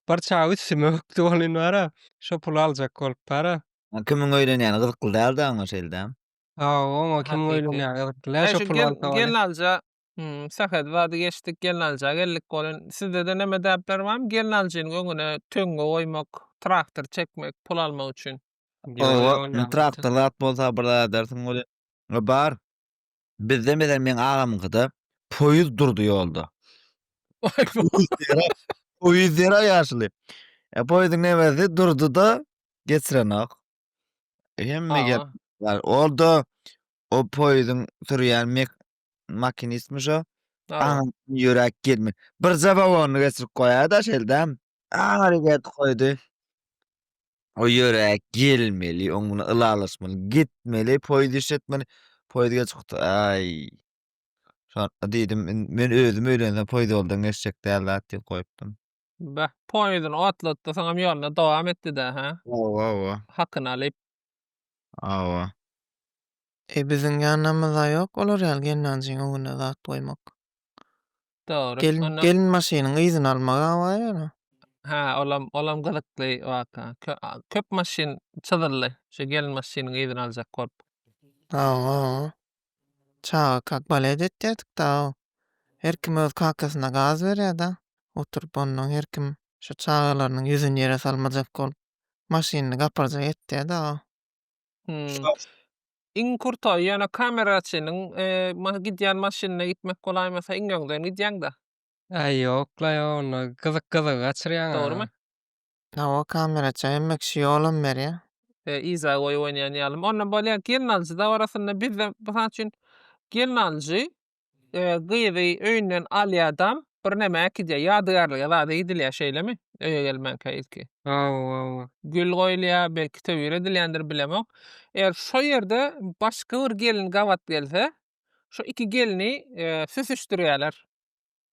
bir çag üstüme bökdi welin bar-a, şo puly aljak bolup bar-a. A, kimiň öýlenýäni gyzykly däl-dä oňa şeýle-dä. Hawa, oňa kimiň öýlenýäni gyzykly däl, şo puly alsa welin. Gelnanja Hümm, sähel zady geçdik, gelnalyja geldik bolin. Sizdede neme däpler barmy gelnalyjynyň öňüne töňňe goýmak, traktor çekmek, pul almak üçin? Oba, indi traktor zat bolsa bir zat edersiň welin. Bar. Bizde meselem meň agamyňkyda poýuz durdy ýolda. Poýuz ýera ýaşuly. E poýuzyň nemesi durdy-da, geçirenok. Hemme gep Awa. bar. Ol-da o poýuzyň sürýän mek makinistmi şo? Aňam ýürek girmi. Bir zabawony geçirip goýada şeldem. Aňary get goýdy. O ýürek gelmeli, oň bilen ylalaşmaly, gitmeli, poýuz iş etmeli. Poýuz geç gutdy. Aý. Şonda diýdim, men özüm öýlensem poýuz ýoldan geçjek däl zat diýip goýupdym. Beh, poýuzyny otlatdy, soňam ýoluna dowam etdi-dä, hä? Hawa, hawa. Hakyny alyp. Hawa. Eý, biziň ýanamyzda ýok olar ýaly gelnanjyň öňüne zat goýmak. Dogry. Gelin, gelin maşynyň yzyny almak awaý ýöne. Hä, olam, olam gyzykly waka. Kö, a, köp maşyn çyzyldy, şu gelin maşynyň yzyny aljak bolup. Hawa, hawa. Çaga kak balet etýärdik-da-ow. Her kim öz kakasyna gaz berýär-de, oturyp onnoň her kim şo çagalarynyň ýüzüni ýere salmajak bolup, maşynyny gaparjak etýär-de-ow. Hum. Iň kurtoý, ýöne kameraçynyň gidýän maşynynda gitmek bolaýmasa, iň öňden gidýäň-de. Äý, ýok-la, ýok, onda gyzyk-gyzygy gaçyrýaň-a. Dogrumy? Hawa kameraça hemme kişi ýolam berýä. Yza goýup oýnaýan ýalym. Onda bolýar gelin alyjy dabarasynda bizde mysal üçin gelin alyjy gyzy öýünden alýadam birneme äkidýär ýadygärlige zada gidilýär şeýlemi öýe gelmänkä ilki. Hawa hawa. Gül goýulýar belki töwir edilýändir bilemok. Eger şo ýerde başga bir gelin gabat gelse şo iki gelni süsüşdirýärler.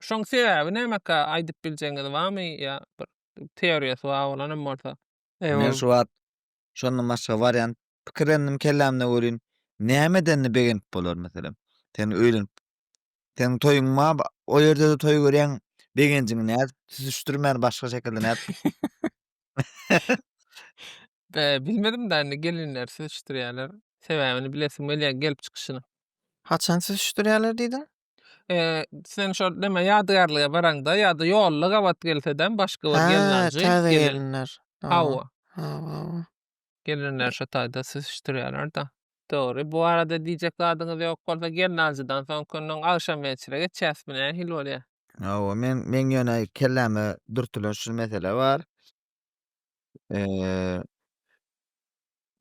Şoň sebäbi nämekä aýdyp biljegiňiz barmy ýa bir teoriýasy bar bolanam bolsa. Men şu wagt şondan başga wariant pikirlendim kellämde welin näme edende begenip bolar meselem sen öýlenip seniň toýuň bar o ýerde-de toý görýäň begenjiňi nädip süzüşdirmän başga şekilde nädip Bilmedim da indi gelinler süzüşdirýärler sebäbini bilesim gelýär gelip çykyşyny. Haçan süzüşdirýärler diýdiň? Eee, sen şol neme ýadygärlige baraňda ýa-da ýolda gabat gelseden başga bir gelin Ha, aljy, täze gelin. gelinler. Hawa. Hawa. Hawa, hawa. Gelinler şo taýda süzüşdirýärler-de. Dogry. Bu barada diýjek zadyňyz ýok bolsa, gelin aljydan soňky günüň agşam mençire geçýäsmi, nähili bolýar? Hawa, men, meň ýöne kelläme dürtülen şu mesele bar. Eee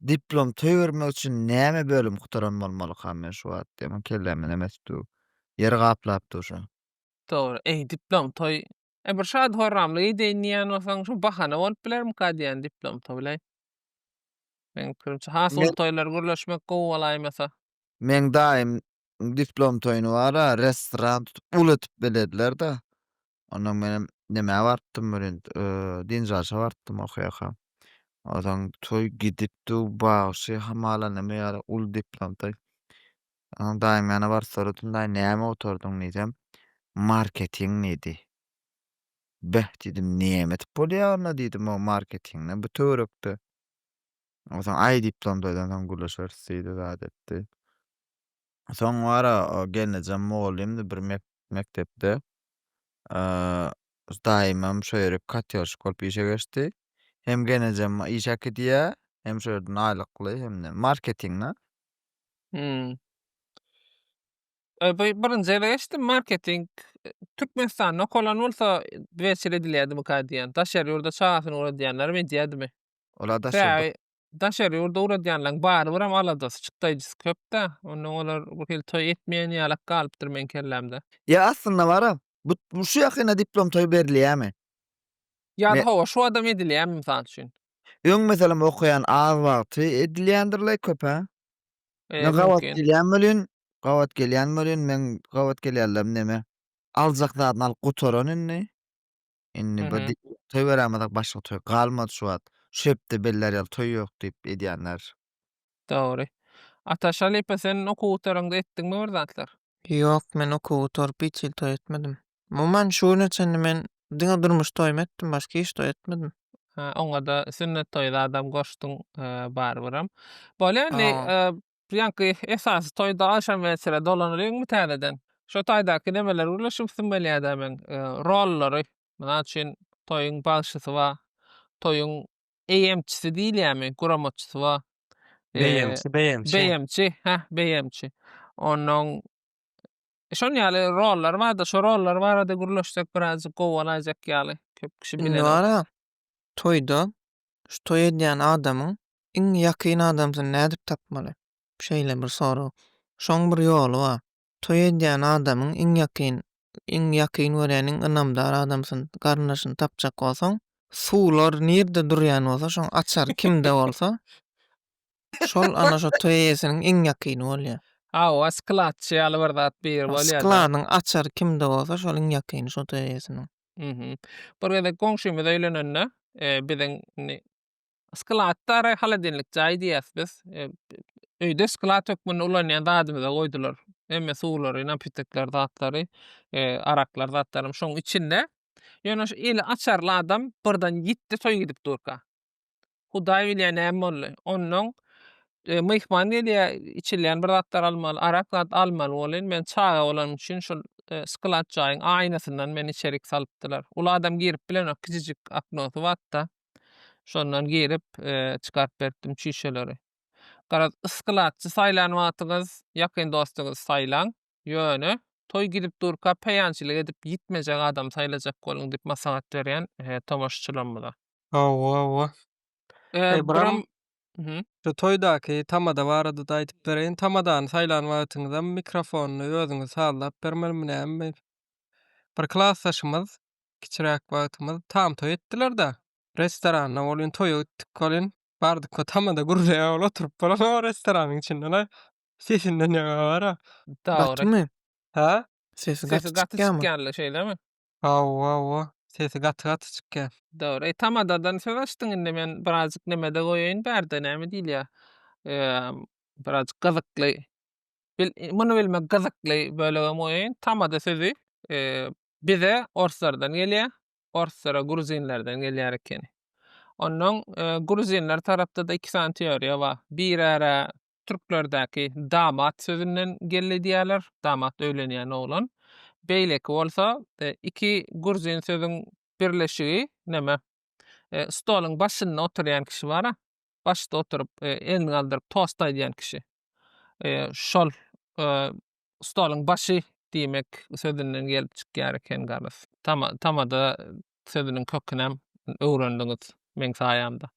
Diplom toý bermek üçin näme bölüm gutaran bolmalykam men şu wagt diýemok kelläme näme etip dur. Ýer gaplap dur şu. Dogry. Eý diplom toý. E bir şady horramly gideýin diýýän bolsaň şu bahana bolup bilermika diýýän diplom toýlaý. Meň pikirimçe has uly Men toýlar gürleşmek gowy bolaýmasa. Meň daýym diplom toýuny bara restoran tutup uly etip belediler-de. Ondan menem nämä bartdym bilen, Dinjaşa bartdym okaýaka. Odan toý gidipdi, bagşy hamala näme ýaly ul diplomda. Onuň daýym ýana bar soradym, daýy näme oturdyň diýsem, marketing diýdi. Beh diýdim, näme edip bolýar onda diýdim, o marketingden bu töwerekde. Ondan aý diplomda ondan gürleşeris diýdi, zat etdi. Soň wara o gelnejem mugallymdy bir mekdepde. Daýymam şo ýere katýorşik bolup işe geçdi. Hem gelnejem iş äkidýär, hem şo ýerden aýlykly, hem-de marketing-de. Hmm. E, bu birinji ýere geçdim, marketing. Türkmenistanda okalan bolsa, beýçil edilýärdimikä diýýän. Daşary ýurda çagasyny gör edýänlerem edýärdimi? Olar daşary Sebäbi daşary ýurda ugradýanlaryň barybyram aladasy, çykdaýjysy köp-dä. Onda olar bir hili toý etmeýän ýalak galypdyr meň kellämde. Ýa aslynda bara, bu bu şu ýakynda diplom toýy berilýämi? Ýa-da hawa, şu adam edilýämi, mysal üçin? Öň meselem okaýan az wagty edilýändirle köp-ä? E, Men gabat mümkin. gelýän welin, gabat gelýän welin, meň gabat gelýänlerim neme? Aljak zadyny alyp gutaran indi. Hı Indi bir hı. toý berämezek başga toý galmady şu wagt. Şu hepde beller ýaly toý ýok diýip edýänler. Dogry. Ataş halypa sen okuw gutaryňda etdiňmi bir zatlar? Ýok men okuw gutaryp hiç hili toý etmedim. Umuman şu güne çenli men diňe durmuş toýumy etdim başga hiç toý etmedim. Hä oňada sünnet toýy zadam goşdyň barybirem. Bolýa indi Aa. Ýaňky esasy toýda agşam wesile dolanylyňmy täzeden? Şo taýdaky nemeler bile şübsim gelýädä meň. Rollary, mysal üçin, toýuň bagşysy ba, toýuň eýemçisi diýilýämi, guramatçysy ba. Beýemçi, beýemçi. Beýemçi, hä, beýemçi. Onnoň şon ýaly rollary bardy. Şo rollar barada gürleşsek birazjyk gowy bolaýjak ýaly. Köp kişi bilenok. Indi bar-a, Toýda şu toý edýän adamyň iň ýakyn adamsyny nädip tapmaly? Şeýle bir sorag. Şoň bir ýoly bar. Toý edýän adamyň iň ýakyn, iň ýakyn görýän, iň ynamdar adamsyny, garyndaşyny tapjak bolsaň, suwlar nirde durýan bolsa, şoň açary kimde bolsa, şol ana şo toý eýesiniň iň ýakyny bolýar. Hawa, skladçy ýaly bir zat biri bolýar-da. Skladyň açary kimde bolsa, şol iň ýakyny şo toý eýesiniň. Mhm. Bir gezek goňşymyz öýlenende, eee, biziň indi skladda-da holodilnik jaý diýýäs biz. Eee, öýde sklad hökmünde ulanýan zadymyza goýdular. Hemme suwlary, napitekler, zatlary, eee, araklar, zatlaram şoň içinde. Ýöne şu eli açarly adam birden ýitdi, toý gidip durka. Hudaý bilýär näme boldy. Onnoň myhman gelýär, içilýän bir zatlar almaly, arak zat almaly bolýan. Men çaga bolanym üçin şol sklad jaýyň aýnasyndan meni içerik salypdylar. Uly adam girip bilenok, kiçijik oknosy batda. Şondan girip, çykaryp beripdim çüýşeleri. Garaz, skladçy saýlan wagtyňyz ýakyn dostuňyzy saýlaň. Ýöne, toý gidip durka peýançylyk edip ýitmejek adam saýlajak boluň diýip maslahat berýän tomaşaçylarymyza. Hawa, hawa. Eý, Bram, şu toýdaky tamada barada-da aýdyp bereýin. Tamadany saýlan wagtyňyzam mikrofony özüňiz sazlap bermelimi nämemi? Bir klasdaşymyz, kiçiräk wagtymyz, tam toý etdiler-de, restoranda welin toýa gitdik welin, bardyk we tamada gürleýär, ol oturyp bolan o restoranyň içinde-le. Sesinden ýaňa gara. Gatymy? Hä? Sesi gaty çykýarmy? Şeýlemi? Hawa, hawa. Sesi gaty-gaty çykýar. Dogry. Tamadadan söz açdyň indi men birazjyk nemede goýaýyn bärde näme diýilýär? Eee, birazjyk gyzykly. Bil, muny bilmek gyzykly bölegem goýaýyn. Tamada sözi eee bize orslardan gelýär. Orslara gruzinlerden gelýär ekeni. Onnoň eee gruzinler tarapda-da iki sany teoriýa bar. Birara türklerdäki damat sözünden geldi diýýärler, damat öýlenýän oglan. Beýleki bolsa e, iki gruzin sözüň birleşigi näme? E, stoluň başynda oturýan kişi bar-a, başda oturyp, e, elini galdyryp tost aýdýan kişi. E, şol e, stoluň başy diýmek sözünden gelip çykýar eken garaz. Tama, tamada sözüniň kökünem öwrendiňiz meň saýamda.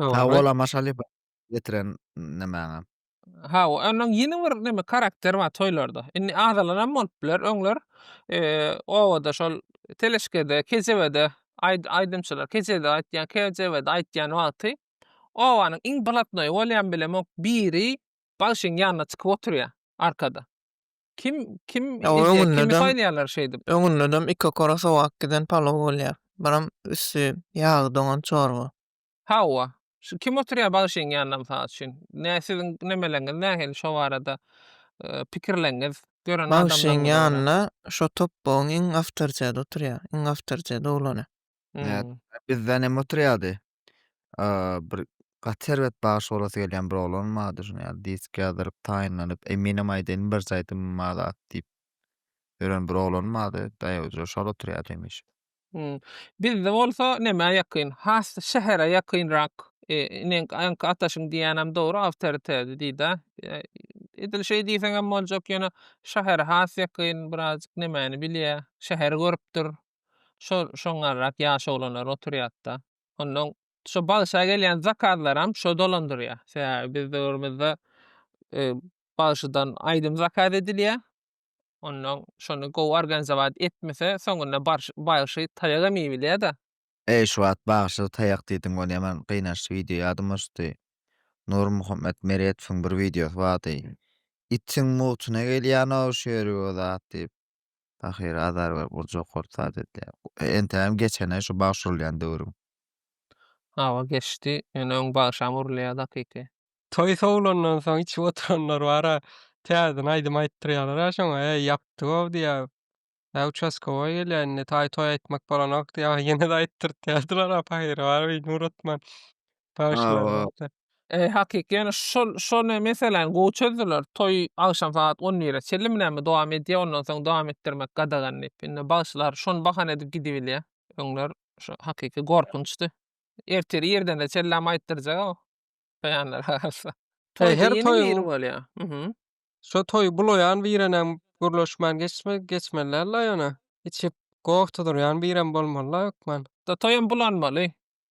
Sag bol Amaş Alyba. getiren nämäňe? Ha, onuň ýene bir näme karakteri bar toýlarda. Indi azalanam bolup biler. Öňler obada şol Teleşkede, Kejebede aýdymçylar, Kejede aýtýan, Kejebede aýtýan wagty obanyň iň blatnoýy bolýan bilemok biri bagşyň ýanyna çykyp oturýar arkada. Kim kim izleýär, kimi saýlaýarlar şeýdip. Öňündedem iki okara sowak giden palow bolýar. Biram üsti ýagy doňan çorba. Hawa. Şu kim oturýar bagşyň ýanynda mysal üçin? Nä siziň nemeleňiz nähili şo barada pikirleňiz? Gören Bagşyň ýanynda şo topbagyň iň awtoriteti oturýar, iň awtoriteti oglany. Hum. Bizden hem oturýardy. Bir gaty erbet bagşy bolasy gelýän bir oglan bardy şuny ýaly disk ýazdyryp taýynlanyp eminim aýdaýyn birje aýdymym bar zat diýip ýören bir oglan bardy daýaw şol oturýardy hemişe Hum. Bizde bolsa nämä ýakyn? Has şähere ýakynrak. E, inen aňki ataşyň diýýänem dogry awtoritedi diýdä. E, edil şeý diýseňem boljak ýöne şähere has ýakyn birazjyk nemäni bilýä. Şäheri görüpdir. Şo şoňňarrak ýaş oglanlar oturýatda. Onnoň şo bagşa gelýän zakazlaram şo dolandyrýa. Sebäbi biz döwrümizde e, bagşydan aýdym zakaz edilýä. Onnoň şony gowy organizowat etmese soňunda barşy bagşy taýagam iýip bilýäda. Eý şu wagt bagşy taýak diýdiň gon ýaman gynaçly wideo ýadyma düşdi Nurmuhammet Meretowyň bir wideosy bardy itiň mugtyna gelýänok şu ýeri o zat diýip pahyr azar berip urjak bolup zat edýär entägem geçenä şu bagşy urulýan döwrüň. Hawa geçdi ýöne öň bagşam urulýardy hakyky. Toý sowlandan soň içip oturanlar bar-a, täzeden aýdym aýtdyrýarlar-a şoňa, Äý, ýapdy-ow diýýär. Ä, uçaskowoý gelýär indi, taý toý aýtmak bolanok diýýär. Ýene-de aýtdyrtýardylar-a, pahyry bar bir Nuratman bagşylarymyzda. Äý, hakyky ýöne şol, şol ne, meseläni gowy çözdüler. Toý agşam sagat on bire çenlimi näme dowam edýär, ondan soň dowam etdirmek gadagan diýip. Indi bagşylar şony bahana edip gidibilýär. Öňler şu hakyky gorkunçdy. Ertiri irdene çenlem aýtdyrjag-ow. Taýanlar galsa. Toý her toýuň biri bolýa. Mhm. Şo toýy bulaýan birenem gürleşmän geçme geçmeliler-la ýöne. Içip gohdy durýan birem bolmaly-la hökman. Da toýam bulanmaly.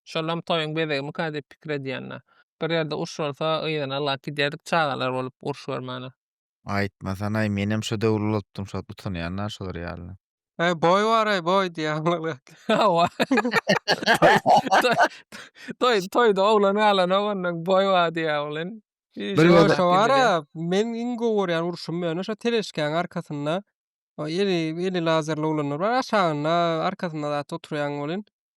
Şolam toýuň bezegimika diýip pikir edýänler. Bir ýerde uruş bolsa yzyna alyp gidýärdik çagalar bolup uruş görmäne. Aýtmasanaý, menem şo döwür ulaltdym şo utanýan-a şolar ýaly. Aý boý baraý boý diýýär. Hawa. Toý toýda oglan galanok ondan boý bar diýýär welin. Şo wara men iň gowy görýän urşum ýöne şo teleşkäň arkasynda eli eli lazerli oglanlar bar aşagynda arkasynda zat oturýaň welin.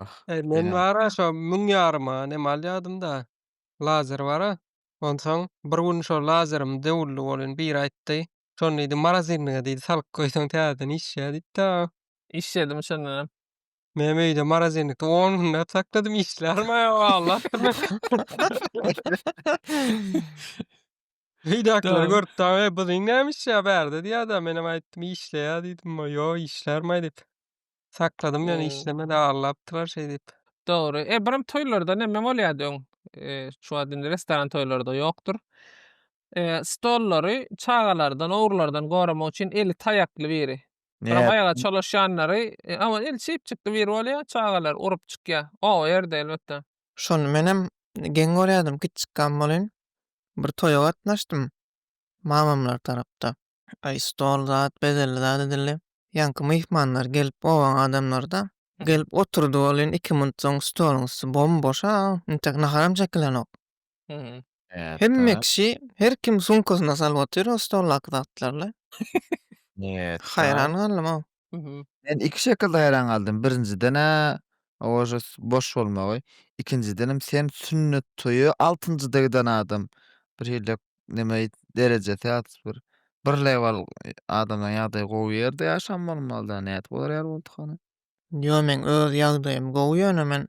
Ah, Eý, men ýa. bar-a şo müň ýaryma nem alýadym-da, lazer bar-a. Onsoň bir gün şo lazerimiň döwürli bolyny biri aýtdy. Şony diýdi, morozinniga diýdi, salyp goýsaň täzeden işlär diýdi-de. Işledim şondan hem. Menem öýde morozinnikde on günläp sakladym, işlärem-ä walla. Öýdäkiler Dogry. görüp dagy, Eý, buziň näme işlär bärde diýýär-de, menem aýtdym, işleýär diýdim, Ýo, işlärem-aý diýip. Sakladym ýöne Ee. işlemedi aglapdylar şey diýip. Dogry. E, birim toýlarda näme bolýardy öň? E, şu wagt indi restoran toýlarda ýokdur. E, stollary çagalardan, ogrulardan goramak üçin eli taýakly biri. Birim Näet? aýaga çolaşýanlary, e, aman eli çypjykly biri bolýar, çagalar urup çykýar. Oba ýerde elbetde. Şony menem geň görýärdim, kiçjikkäm bolin bir toýa gatnaşdym mamamlar tarapda. Aý stol zat bezelli zat edildi. Ýaňky myhmanlar gelip bogan adamlarda gelip oturdy ol indi iki minut soň stoluň üsti bom boşa intek naharam çekilenok. Hemme kişi her kim sumkasyna salyp otyr o stoldaky zatlarly. Haýran galdym ow. Mhm. Men iki şekilde haýran galdym. Birinjiden-ä ožas boş bolmagy. Ikinjidenem sen sünnet toýa altynjyda giden adam. Bir hille neme aýt derejesi ýat bir bir lewal e, adamlaryň ýagdaýy gowy ýerde ýaşan bolmaly-da. Nädip olar ýaly boldy hany? Ýo meň öz ýagdaýym gowy ýöne men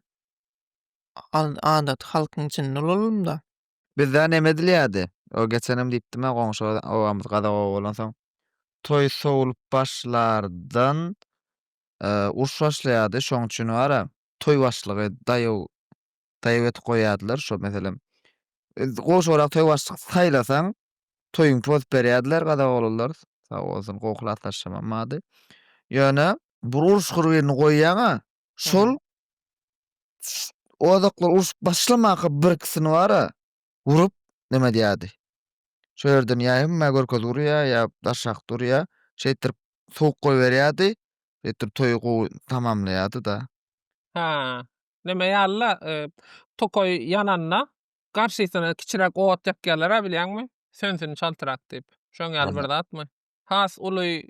al- adaty halkyň içinde ulalym-da. Bizde neme edilýärdi? O geçenem diýipdim-ä goňşy obamyz gazak oba bolansoň. Toý sowlup başlardan uruş başlaýardy. Şoň üçin bar-a toý başlygy daýaw daýaw edip goýýardylar. Şo meselem goňşy obada toý başlyk saýlasaň toýuňky bozup berýärdiler gazak oglanlar. Sag bolsun gowy klasdaşymam bardy. Ýöne bir uruşgur birini goýýaň-a Şol ozaklar urşup başlamaka birkisini bara urup neme diýýärdi. Şo ýerden ýa hemmä görkez urýa ýa daşak durýa. Şeýtdirip sowuk goýberýärdi. Şeýtdirip toýy gowy tamamlaýardy-da. Ha. Neme ýaly-la, e, tokaý ýananda garşysyna kiçiräk ot ýakýarlar-a bilýäňmi? Sönsün çaltrak diýip. Şoň ýaly bir zatmy? Has uly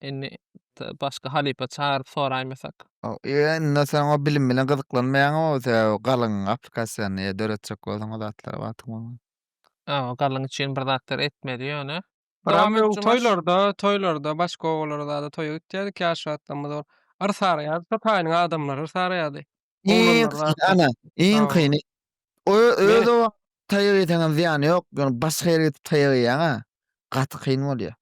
Indi başga halypa çagyryp soraýmasak. Indi sen o bilim bilen gyzyklanmaýaň o galyň applikasyýany eýe döretjek bolsaň o zatlara wagtyň bolmaz. Aw galyň üçin bir zatlar etmeli ýöne. Dowam et Jumaş. Toýlarda, toýlarda başga obalara zada toýa gitýädik ýaş wagtlarymyz ol. Yrsaraýardy şo taýynyň adamlary yrsaraýardy. Iň Oglanlar kyn, rahatlar. ana, iň Sag kyny. O öz Meret. obaňa taýak iýseňem zyýany ýok, ýöne başga ýere gidip taýak iýýäň-ä. Gaty kyn bolýar.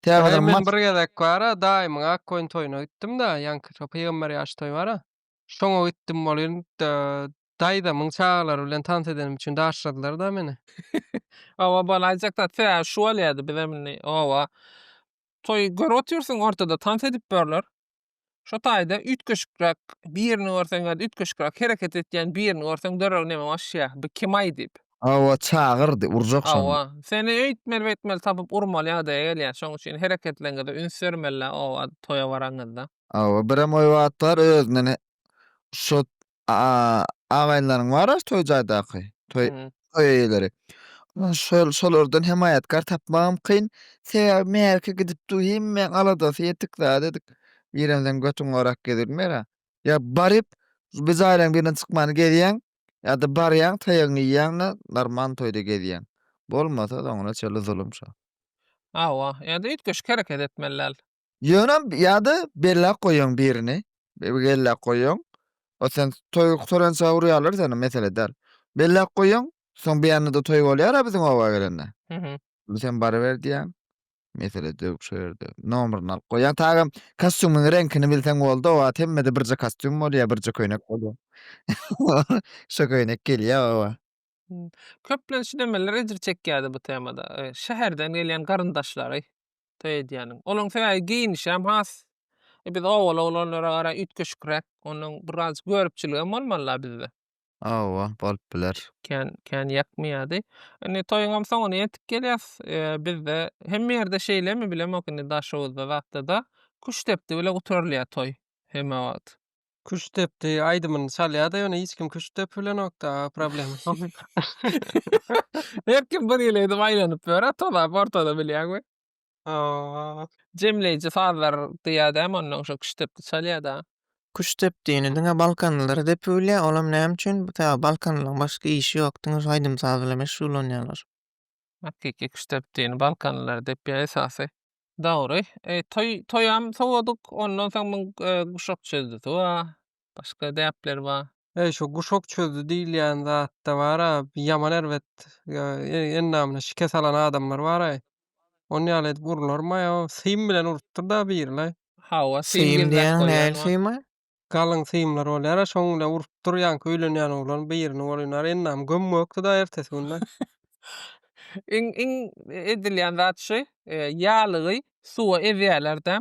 Tä Daýy, men bir gezek bar-a, daýymyň ak goýun toýuna gitdim-de, ýaňky şo pygamber ýaş toý bar-a, şoňa gitdim welin, da, daýzamyň çagalary bilen tans edenim üçin daşladylar-da meni. Hawa, bolaýjak zat. Tä şu bolýardy, bizem indi, oba, toý görüp otyrsyň, ortada tans edip ýörler. Şo taýda üýtgeşikräk birini görseň ýa-da üýtgeşikräk hereket etýän birini görseň döreg neme başýa, bu kim-aý diýip. Hawa, çagyrdy, urjak şony. Hawa, seni öýtmeli-beýtmeli tapyp urmaly ýagdaýa gelýär. Şoň üçin hereketleriňize üns bermeli-dä oba, toýa baraňyzda. Hawa, birem oýbatlar özünden şo A-agaýynlaryň bar-a toý jaýdaky, toý Hı-hı. toý eýeleri. Ondan şol şolardan hemaýatkar tapmagam kyn. Sebäbi mähirki gidip dur, hemmäň aladasy ýetik zat edik. Birem sen götüň gorap gezilmer-ä. Ýa baryp, bir jaýlaryň birinden çykman gezýäň, ýa-da barýaň, taýagyňy iýýäň-de, normal toýda gezýäň. Bolmasa, soňra şeýle zulum şo. Hawa, ýa-da üýtgeşik hereket etmeli däl. Ýöne ýa-da belläp goýuň birini, belläp goýuň. Ol sen toý gutarança urýarlar seni, mesele däl. Belläp goýuň, soň beýanynda toý bolýar-a biziň oba gelende. Indi sen baryber diýýäň. Mesele döwük şo ýerde. Nomeryny alyp goýýaň. Taýam kostýumyň reňkini bilseň boldy, o wagt hemmede birje kostýum bolýar, birje köýnek bolýar. Şo köýnek gelýär oba. Köplenç nemeler ejir çekýärdi bu temada? E, şäherden gelýän garyndaşlary toý edýäniň. Olaryň sebäbi geýnişi hem has e, biz obaly oglanlara gara üýtgeşikräk. Onuň biraz görüpçiligi hem bolmaly-la bizde. Hawa, bolup biler. Kän, kän ýakmaýardy. Indi toýuňam soňuna ýetip gelýäs. E, bizde hemme ýerde şeýlemi bilemok indi Daşoguzda zatda-da. Küştdepdi bile gutarylýar toý hemme wagt. Küşt depdi aýdymyny çalýar-da, ýöne hiç kim küşt depip bilenok-da, problema şol. Her kim bir hili edip aýlanyp ýör-ä, tozap ortada bilýäňmi? Hawa. Jemleýji sazlar diýýär-dä, hem ondan şo küşt depdi çalýar-da. Küşt depdini diňe balkanlylar depip bilýär, olam näme üçin? Sebäbi balkanlylaryň başga işi ýok, diňe şu aýdym-saz bilen meşgullanýarlar. Hakyky küştdep dini balkanlylar dep ýa esasy. Dogry. E, toý toýam sowadyk, ondan soň muň e, guşak çözdi sowa. Başga däpler bar. Eý şu guşak çözdi diýilýän zatda bara ýaman erbet e, e, endamyna şikes alan adamlar bara. Ony ýaly edip urularmaý o. Sym bilen urupdyr da biri la. Hawa, syn Sym girdak diýen goýýan näl bar. symy? Galyň symlar bolýar-a, şoň bilen urup dur, ýaňky öýlenýän oglan birini bolýnar, endam gömgökdi-da ertesi günde. Iň, iň edilýän zat şu, ýalygy suwa ezýärler-de,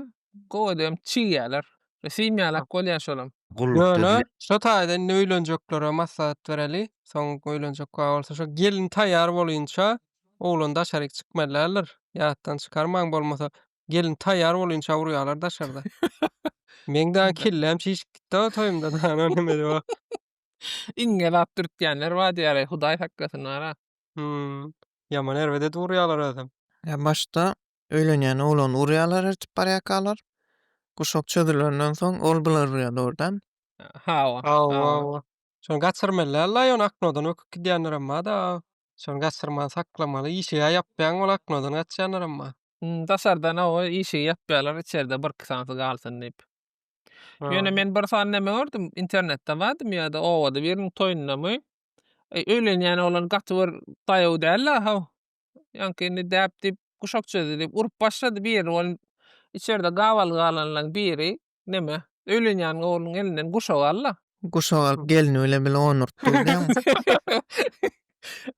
gowy edibem çigýärler. Sym ýalak bolýar şolam. Ýöne, şo taýda indi öýlenjeklere maslahat bereli, soň öýlenjek wagt bolsa, şo gelin taýýar bolunça, oglan daşaryk çykmaly däldir. Ýatdan çykarmaň, bolmasa, Gelin taýýar bol inçe urýarlar daşarda. Meň daň kelläm çişip gitdi o toýumda dana neme diýip o. Iňňe zat dürtýänler bar diýýärä hudaý saklasyn ara. Hümm. Ýaman erbet edip urýarlar özem. Ýa başda öýlenýän oglany urýarlar ertip barýakalar. Guşak çözülenden soň ol bular urýar dogrudan. Hawa. Hawa hawa. Şony gaçyrmaly Allah ýone aknodan böküp gidýänlerem barda. Şony gaçyrman saklamaly işiga ýapýaň ol aknodan gaçýanlarem bar. Daşardan oba işigi ýapýarlar, içerde birki sanysy galsyn diýip. Ýöne men bir sany näme gördüm, internetde bardymy ýa-da obada biriniň toýundamy, e, öýlenýän oglan gaty bir daýaw däl-la, haw. Ýaňky indi däp diýip, guşak çözdi diýip, urup başlady birini, ol içerde gabaly galanlaryň biri. Neme? Öýlenýäniň ogluň elinden guşak al-la. Guşak alyp gelni bile bile onurt diýýäňmi?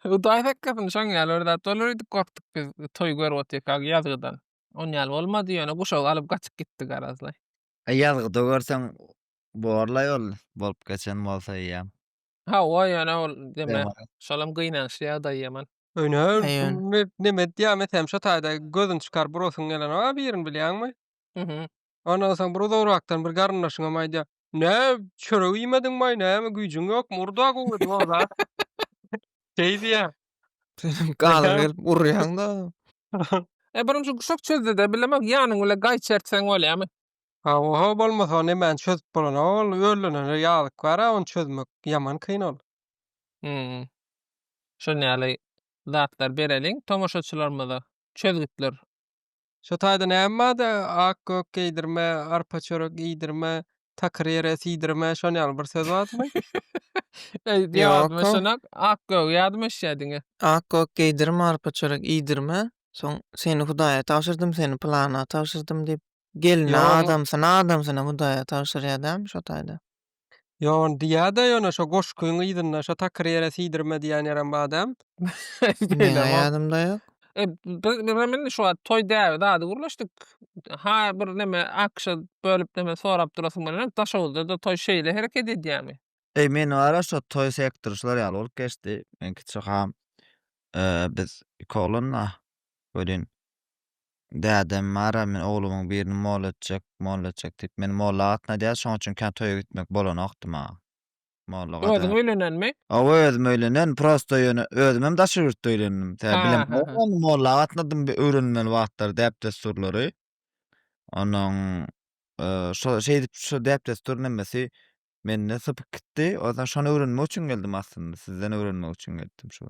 Hudaý saklasyn, şoň ýaly bir zat bolar öýdüp gorkduk biz toý görüp otyrkak ýazgydan. Ony ýaly bolmady, ýöne guşagy alyp gaçyp gitdi garazlaý. E, ýazgyda görseň bor-laý ol, bolup geçen bolsa eýýäm. Hawa, ýöne ol neme, şolam gynaýyşly ýagdaý ýaman. Öýne, men neme edýämi, sen şo taýda gözüni çykaryp burasyň gelenok-a birini bilýäňmi? Ondan soň bir uzagrakdan bir garyndaşyňam aýdýar, Nä, çörek iýmediňmaý, näme, güýjüň ýokmy, ur-da gowy edip oba. Şeý diýýär. Senem galyň gelip urýaň-da. E, birinji guşak çözdi-de, bilemok, ýanyň bilen gaýçy ertseň bolýamy? Hawa-hawa, bolmasa ol nemäni çözüp bolan-a ol, öllenere ýazyk bar-a ony çözmek, ýaman kyn ol. Hum. Şuny ýaly zatlar bereliň tomaşaçylarymyza, çözgütler. Şo taýda näme bar-da, ak-gök geýdirme, arpa çörek iýdirme, takyr ýere siýdirme, şon ýaly bir söz bardymy? Öýüp ýabadyma Ýok-ow. şonam, ak-gögi ýadyma düşýär diňe. Ak-gök geýdirme, arpa çörek iýdirme, soň seni Hudaýa tabşyrdym, seni pylana tabşyrdym diýip, gelini Ýok, oň- adamsyna, adamsyna Hudaýa tabşyrýar dälmi şo taýda? Ýowan diýýäda ýöne şo goşgyň yzynda şo takyr ýere siýdirme diýýän ýerem badam. Meňä ýadymda ýok. Biz şu wagt toý däbi zady gürleşdik. Ha bir neme akşa bölüp neme sorap durasyň gelenok. Daşoguzda-da toý şeýle hereket edýämi? Eý men wara şo toý sektor şular ýaly bolup geçdi. Meň kiçi kakam biz iki oglan-a welin Dädem, Mara, men oglumyň birini molla etjek, molla etjek diýip, meni molla agatna diýýär, şonuň üçin kän toýa gitmek bolanokdy maňa. Molla gada. Özüň öýlenenmi? Hawa, özüm öýlenen, prosta ýöne özüm hem daşary ýurtda öýlendim. Tä bilemok ony molla agatnadym bi öwrenilmeli wagtlary, däp-dessurlary. Onuň şo şeýdip, şu däp-dessur nemesi Mende sypyk gitdi. Ondan şony öwrenmek üçin geldim aslynda. Sizden öwrenmek üçin geldim şu.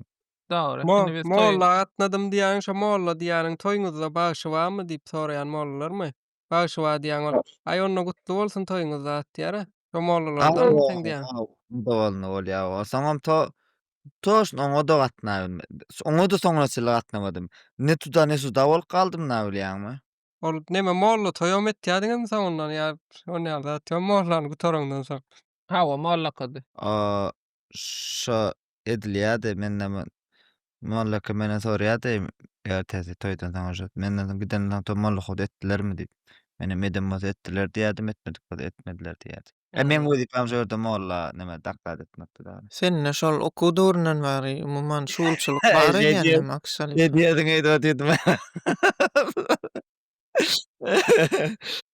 Dogry. Mo Indi biz toýa molla gatnadym diýýäň şo molla diýýäniň toýuňyzda bagşy barmy diýip soraýan mollalarmy? Bagşy bar diýýäň ol. Aý onda gutly bolsun toýuňyz zat diýýärä. Şo mollalardanmy seň diýýäň? Onda bolny bolýa o. Soňam to toşn oňa-da gatnabilme oňa-da soňra çenli gatnamadym. Ne tuda ne suda bolup galdym nabilýäňmi? Ol neme molla toýam etýädiňizmi soňundan ýa şonda ýaly zat ýa mollany gutarandan soň. Hawa mollakady. O şo edilýädi mende mollaka menden sorýady ertesi toýdan soň uje menden soň gidenden soň mollakady etdilermi diýip. Menem edem bolsa etdiler diýýädim etmedik bolsa etmediler diýýädi. E, meň Ýagny wezipem şu ýerde molla, neme, doklad etmekdi dagy. Sende şol okuw döwründen bäri, umuman, şugulçylyk bar Şeý eken diýer näme, şeý akşalyka? diýerdiň öýdüp otyrdyma.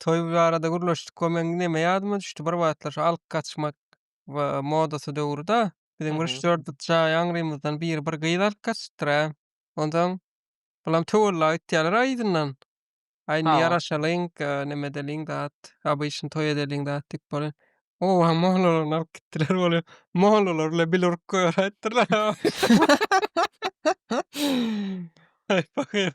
Toý barada gürleşdik we meň neme ýadyma düşdi, bir wagtlar şu alyp gaçmak we modasy döwri-da, biziň bir üç, dört jaý aňrymyzdan biri bir gyz alyp gaçypdyr-a. Onsoň, bulam töwella gitýärler-a yzyndan. Ay Sag indi ol. ýaraşalyň, e, neme edeliň zat, abyşyn toý edeliň zat diýip bolýar. Oba mollalaryny alyp gitdiler bolýa. Mollalar bile bil urup goýar aýtdylar. Ay pahyr.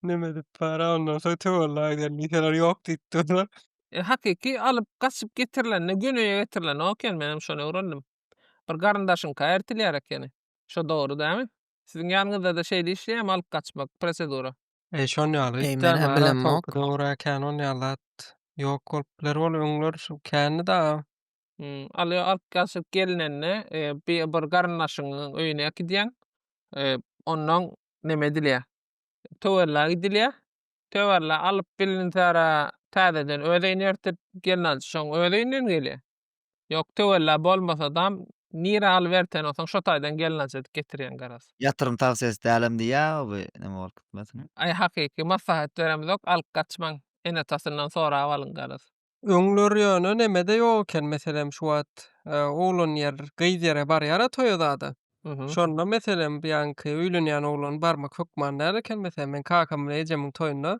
Neme edip bara ondan soň töwella gidelim diýseler ýok diýip durlar. E, hakyky alyp gaçyp getirilende göneýe getirilenok eken menem şony öwrendim. Bir garyndaşyňka ertilýär ekeni. Şo dogry dämi? Siziň ýanyňyzda-da şeýle işleýärmi alyp gaçmak, prosedura? Eý şon ýaly. Eý menä bilemok. Dogry-a kän ol ýaly zat ýok bolup biler ol öňler şu kändi-da. Aly alyp gaçyp gelinende bir garyndaşyňyň öýüne äkidýäň. Onnoň neme edilýär? Töwerlä gidilýär. Töwerlä alyp bilinse-ra täzeden öz öýüne ertip gelnaljy şoň öz öýünden gelýär. Ýok töwella bolmasadam nire alyp erten olsaň şo taýdan gelnaç edip getirýäň garaz. Ýatyrym tawsiýesi dälem diýýäga bu neme bolup gitmesin. Aý hakyky maslahat beremizok alyp gaçmaň ene tasyndan sorap alyň garaz. Öňler ýöne nemede ýok eken meselem şu wagt oglan ýer gyz ýere barýara toýa zada şonda meselem bu ýanky öýlenýän oglan barmak hökman däl eken meselem men kakamyň we ejemiň toýunda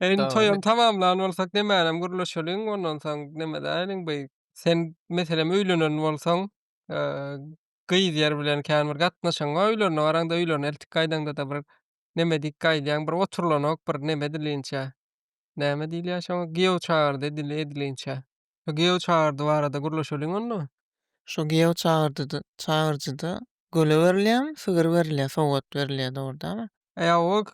E indi toýam tamamlan bolsak nemärem gürleşeliň ondan soň nemedäýeliň bu sen meselem öýlenen bolsaň e, gyz ýer bilen kän bir gatnaşygyň bar öýlerine baraňda öýlerine eltik gaýdaňda-da bir neme diýip gaýdýaň bir oturylanok bir neme dilinçä näme diýilýär şoňa giýew çagyrdy edil edilinçä şu giýew çagyrdy barada gürleşeliň onda Şu giýew çagyrdyda çagyryjyda göle berilýärmi, sygyr berilýär, sowgat berilýär dogry dälmi? E ýa o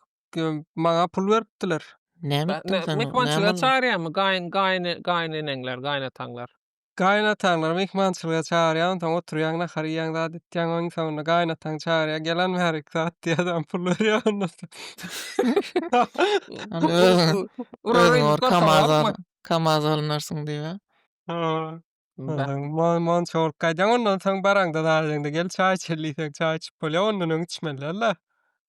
maňa pul beripdiler. Näme etdiň sen? Mehmançylyga çagyrýarmy gaýyn gaýyn gaýyneneňler, gaýynataňlar? Gaýynataňlary mehmançylyga çagyrýar, onsoň oturýaň, nahar iýýäň, zat etýäň, oň soňunda gaýynataň çagyrýar, gel hany bärik zat diýýär, adam pul berýär ondan soň. Hany özüň, özüň bir kamaz al, kamaz alynarsyň diýip-ä. Monça bolup gaýdýaň, ondan soň baraňda, zat edeňde, gel çaý içeli diýseň, çaý içip bolýar, ondan öň içmeliler-le.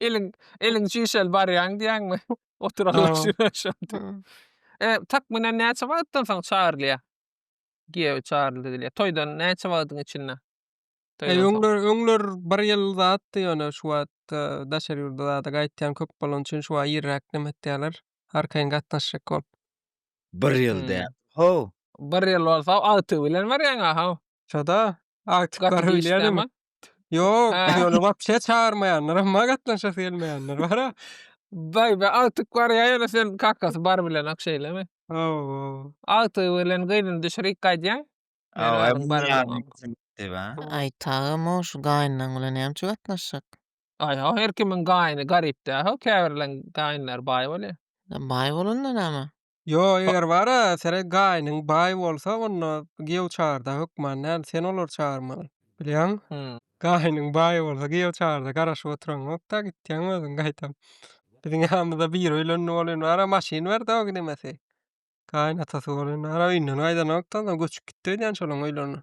Eliň eliň çişeli barýaň diýýäňmi? Oturanlar üçin E, takmynan näçe wagtdan soň çagyrylýar? Giýew çagyrylýar. Toýdan näçe wagtyň içinde? E, öňler, öňler bir ýyl zatdy, ýöne şu wagt daşary ýurda zada gaýtýan köp bolany üçin şu wagt irräk näme etýärler? Arkaýyn gatnaşjak bolup. Bir ýyl däl. How? Bir ýyl bolsa agtygy bilen barýaň-a, how? Şoda agtyk bar öýlýärem. Ýok, ýöne wapşe çagyrmaýanlar, emma gatnaşasy gelmeýänler bar-a. Baý, baý, agtyk barýa ýöne sen kakasy bar bilenak şeýlemi? Hawa. Agtygy bilen gyzyny düşürýik gaýdýaň. Aý, tagam-ow, şu gaýynlaň bilen nämçe gatnaşjak? Aý, o her kimiň gaýyny garyp däl-ow, käbirleriň gaýynlary baý bolýa. Baý bolanda näme? Ýo, Ba eger bar-a, sere gaýnyň baý bolsa, onda giýew çagyrda hökman däl, sen olary çagyrmaly. Bilýäň? Hü. Gaýnyň baý bolsa, giýew çagyrda garaşyp oturaňok-da, gitýäň özüň gaýtam. Biziň ýanymyzda biri öýlendi bolan bar-a, maşyn ber-de o gidemesi. Gaýynatasy bolan bar-a, öýünden gaýdanok-da, onsoň göçüp gitdi öýdýän şolaryň öýlerine.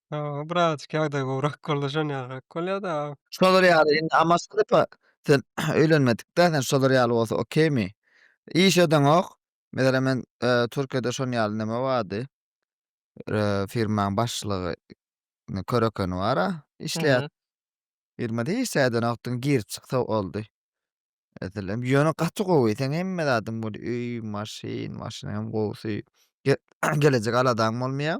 Ýa, birazajyk ýagdaý gowrak bolsa şon ýalyrak bolýa-da. Şolar ýaly indi Amoskepe sen öýlenmedik-dä sen şolar ýaly bolsa okeými? Iş edeňok. Meselem men Türkiýede şon ýaly neme bardy. Firmaň başlygy köre ekeni bar-a işleýär. Mhm. Firmada hiç zat edenokdyň girip çyksa boldy. Meselem ýöne gaty gowy seň hemme zadyň bor öý, maşyn, maşynyň hem gowusy. Ge gelejek aladaň bolmaýar.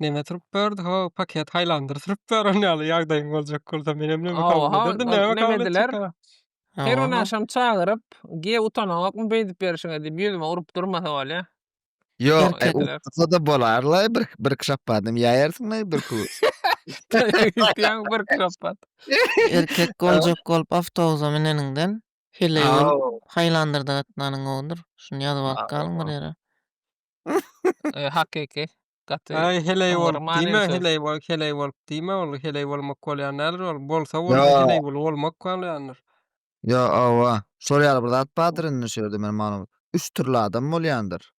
Neme turup berdi ho paket haýlandyr turup ber on ýaly ýagdaýyň boljak bolsa menem neme kabul ederdim neme kabul ediler. Her gün agşam çagyryp ge utanaňokmy beýdip berişiňe diýip ýüzüme urup durmasa bolýa. Ýok urup-da bolarla bir bir kşapbadym ýaýarsyňla bir ku. Ýaň bir kşapbad. Erkek boljak bolup awtobusa müneniňden heleý bolup haýlandyrda gatnanyň gowudyr şuny ýazyp alyp galyň bir ýere. Hakyky. Gaty. Ay heley bol. Dime heley bol. Heley bol. Dime ol. Heley bol. Mok bol. Yani neler ol. Bol sa bol. Heley bol. Ol mok bol. Yani. Ya ava. Şol yer bir zat badır indi şu yerde benim malum. Üç türlü adam bol yandır.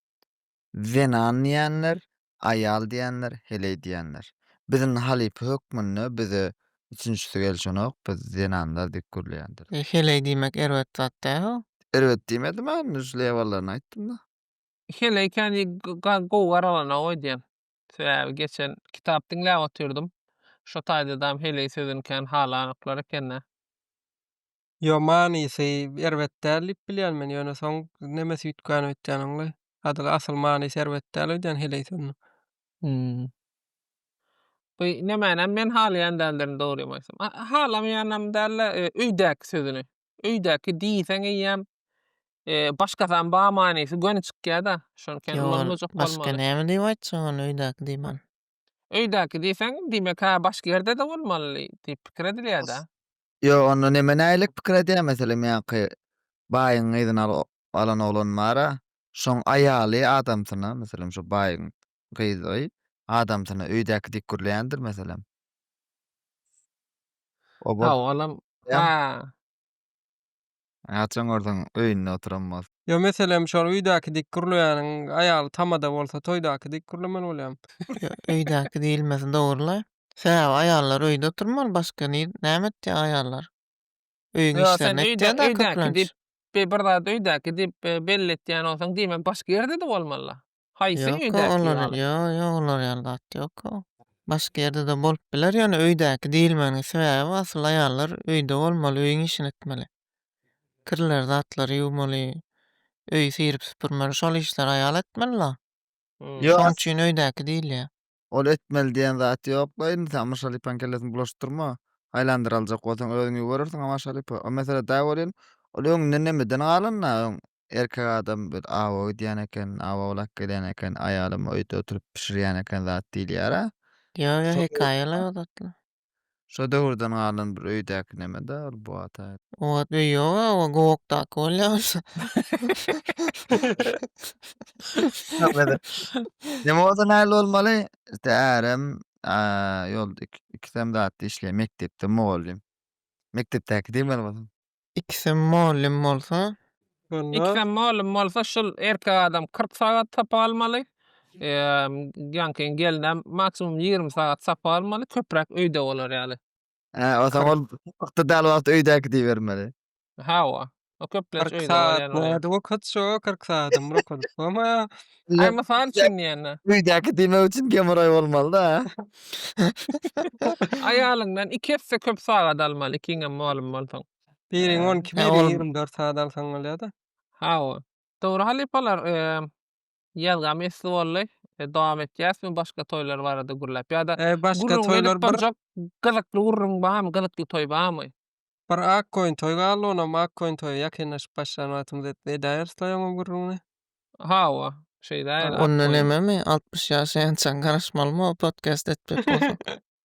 Zenan diyenler. Ayal diyenler. Heley diyenler. Bizim halipi hükmünde bize üçüncüsü gelişen ok. Biz zenanlar dik kurlu yandır. Heley diymek erbet zat da. Erbet diymedim ben. Üç levalarını ayttım da. Şeýle ekeni ga- gowy garalanok öýdýän. Sebäbi geçen kitap diňläp otyrdym. Şo taýdadam heleý sözüni kän halanoklar ekende. Ýo manysy erbet däl diýip bilýän men ýöne soň neme süýtgän öýtýän oňly. Adyl asyl manysy erbet däl öýdýän heleý sözüniň. Hum. Bu nemänäm men halaýan däldirin dogrymy aýtsam. A- Halamaýanam dälde öýdäki sözüni. öýdäki diýseň eýýäm eee başgasam bar manysy göni çykýada. Şonken Ýol ulanmajak başga bolmaly. näme diýip aýtjak ony öýdäki diýman. Öýdäki diýseň diýmek ha başga ýerde-de bolmaly diýip pikir edilýäda. Ýo onda neme nälik pikir edýä meselem ýaňky baýyň gyzyny alan oglan bara şoň aýaly adamsyna meselem şo baýyň gyzjagazy adamsyna öýdäki dik gürleýändir meselem. O bol. Owalam. Haa. Gaçan görseň öýünde oturan bol. Ýo meselem şol öýdäki dik gürleýäniň aýaly tamada bolsa toýdaky dik gürlemeli bolýam. Ýo öýdäki diýilmesi dogryla. Sebäbi aýallar öýde oturmaly başga ni näme etýä aýallar. Öýüň Ýo sen işlerini öýde etýädä öýdäki köplenç. diýip bir zat öýdäki diýip belli etýän bolsaň diýme başga ýerde-de bolmalyla. Haýsy Ýok-a, öýdäki olar ýaly? ýok, ýok, olar ýaly zat ýok-a. Başga ýerde-de bolup biler, ýöne öýdäki diýilmeginiň sebäbi asyl aýallar öýde bolmaly, öýüň işini etmeli. Kirleri, zatlary ýuwmaly, öýi syryp-süpürmeli, şol işleri aýal etmeli-la. Hmm. Ýok, Şoň as- üçin öýdäki diýilýär. ol etmeli diýen zat ýok-la indi sen Myşalypanyň kellesini bulaşdyrma. Aýlandyraljak bolsaň özüň ýuwurarsyň, a Maşalypa. O mesele dagy welin, ol öňünden nemeden galan-da, öň Erkek adam bir awa gidýän eken, awa owlak gelýän eken, aýalym öýde oturyp bişirýän eken zat diýilýär-ä. Ýok, ýok, hekaýalar o zatlar. Şo döwürden galan bir öýdäki neme-dä ol bu ata. O wagt öý ýog-a, o gokdaky bolýar bolsa. Neme bolsa näl bolmaly? Ýa ärem ýolda ikisem zatda işleýär, mekdepde mugallym. Mekdepdäki diýmeli bolsaň. Ikisem mugallym bolsa. Şonda. Ikisem mugallym bolsa şul erkek adam kyrk sagat sapak almaly. Jankyň gelinem maksimum ýigrimi sagat sapak almaly köpräk öýde bolar ýaly. Hä o zaman ol wagtda dal wagty öýdäki diýibermeli. Hawa. O köplenç öýde bolýan. Kyrk sagat nädip okatjak o kyrk sagadam bir okadyp bolmaýar. Aý, mysal üçin diýende. Öýdäki diýmek üçin gemoraý bolmalyda. Aýalyňdan iki esse köp sagat almaly, ikiňem mugallym bolsaň. Biriň on iki, biriň ýigrimi dört sagat alsaň bolýar-da. Hawa. Dogry halypalar, ýazgam esli boldy. Dowam etýäsmi başga toýlar barada gürläp ýa-da gürrüň berip barjak gyzykly gürrüň barmy, gyzykly toý barmy? Bir ak koýun toý galdy, onam ak koýun toýa ýakynlaşyp başlan wagtymyz etdi. Edäýeris-laý oňam gürrüňini. Hawa, şeýdäýeli ak Onda koýun. nememi, altmyş ýaşaýançaň garaşmalymy-o podkast etjek bolsaň?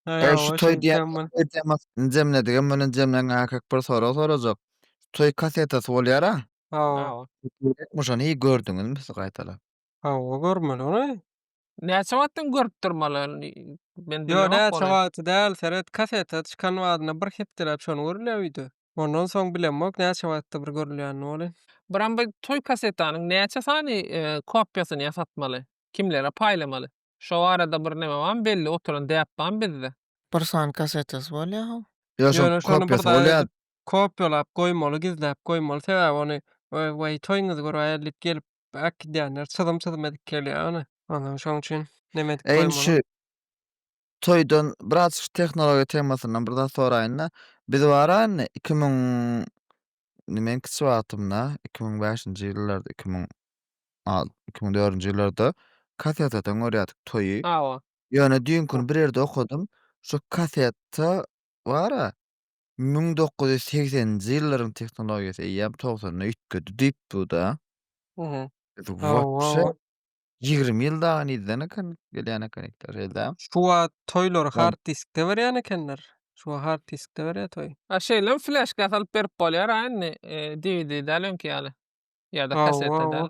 Äý, Eý, şu hawa, toý diýen şeýtseň bol. temasyny jemledigem bilen jemläň äkek bir sorag sorajak. Şu toý kasetasy bolýar-a? Hawa. Hawa. Gerekmi şony? Hiý, gördüňizmi siz gaýtalap? Hawa görmeli ony. Näçe wagtdan görüp durmalyny men bilmok ony. Ýok näçe wagty däl seret kaseta çykan badyna bir hepdeläp şony görülýär wideo. Ondan soň bilemok näçe wagtda bir görülýänini wally. Bram bu toý kasetanyň näçe sany kopýasyny ýasatmaly? Kimlere paýlamaly? Şo barada bir neme bamy belli oturan däp bamy bizde? Bir sany kasetasy bolýa how. Ýok şoň kopýasy bolýa. Kopýalap goýmaly gizläp goýmaly sebäbi ony we toýňyzy görä ýaly diýip gelip Bäk gidýänler çyzym çyzym edip gelýär ony. Ondan şoň üçin neme edip Eýn şu toýdan biraz şu tehnologiýa temasyndan bir zat soraýyn-da. Biz baranda 2000 men kiçi wagtymda 2005-nji ýyllarda 2000 al 2004-nji ýyllarda kasetadan görýärdik toýy. Hawa. Ýöne düýnki gün bir ýerde okadym. Şu kasetta bara Müň dokuz ýüz segseninji ýyllaryň tehnologiýasy eýýäm togsanda üýtgedi diýip bu-da. Uhu. Biz Hawa, wapşe hawa. ýigrimi ýyl dagy nirden eken gelýän eken itler hellä. Şu wagt toýlary Gal- hard diskde berýän ekenler. Şu wagt hard diskde berýär toý. A şeýlem fleşka salyp berip bolýar-a indi, e, DVD däl öňki ýaly. Ýa-da Hawa, kaseta hawa. däl.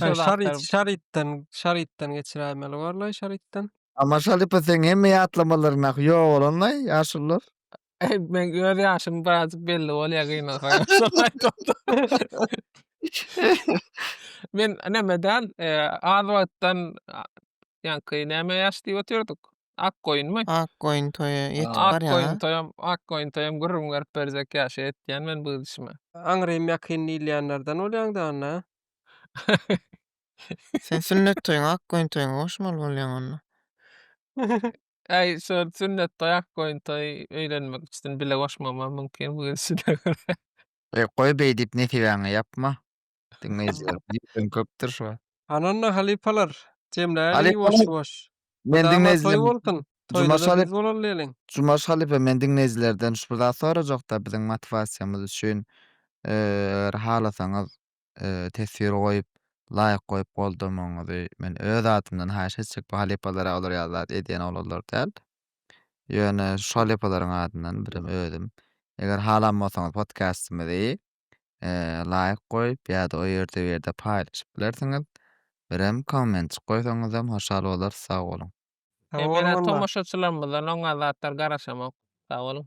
Şo zatlar. Şarytdan, şarytdan geçiräýmeli barlaý şarytdan. Amma şalypa seň hemme ýatlamalaryň nahy ýok bolanlaý ýaşulular. Eý, men öz ýaşym birazjyk belli bolýa gynalsa. Men nämeden, e, az wagtdan, ýaňky näme ýaş diýip otyrdyk? Ak goýunmy? Ak goýun toýa ýetip Ak barýan-a. goýun toýam, ak goýun toýam gürrüň berip berjek ýaşa ýetýän men bu gidişime. Aňrym ýakyn diýilýänlerden bolýaň-da onda. Sen sünnet toýuň ak goýun toýuna goşmaly bolýaň onda. Äý, şol sünnet toý, ak goýun toý öýlenmek üçin bile goşmagymam mümkin bu gidişine görä. Goý beýdip nesibäňe ýapma. Diňleýjiler diýipem köpdür şu wagt. Hananda halypalar, jemläliň ýuwaş-ýuwaş. Men diňleýjiler Jumaş halypa Jumaş halypa men diňleýjilerden şu bir zat sorajakda biziň motiwasiýamyz üçin eger halasaňyz teswir goýup laýk goýup goldamagyňyzy men öz adymdan haýyş etjek bu halypalara olar ýaly zat edýän oglanlar däl. Ýöne şu halypalaryň adyndan birem özüm eger halan bolsaňyz podkastymyzy laýk goýup ýa-da o ýerde bu ýerde paýlaşyp bilersiňiz. Birem kommentik goýsaňyzam hoşal bolarys sag boluň. Sag boluň Emele walla. tomaşaçylarymyzdan oňa zatlar garaşamok. Sag boluň.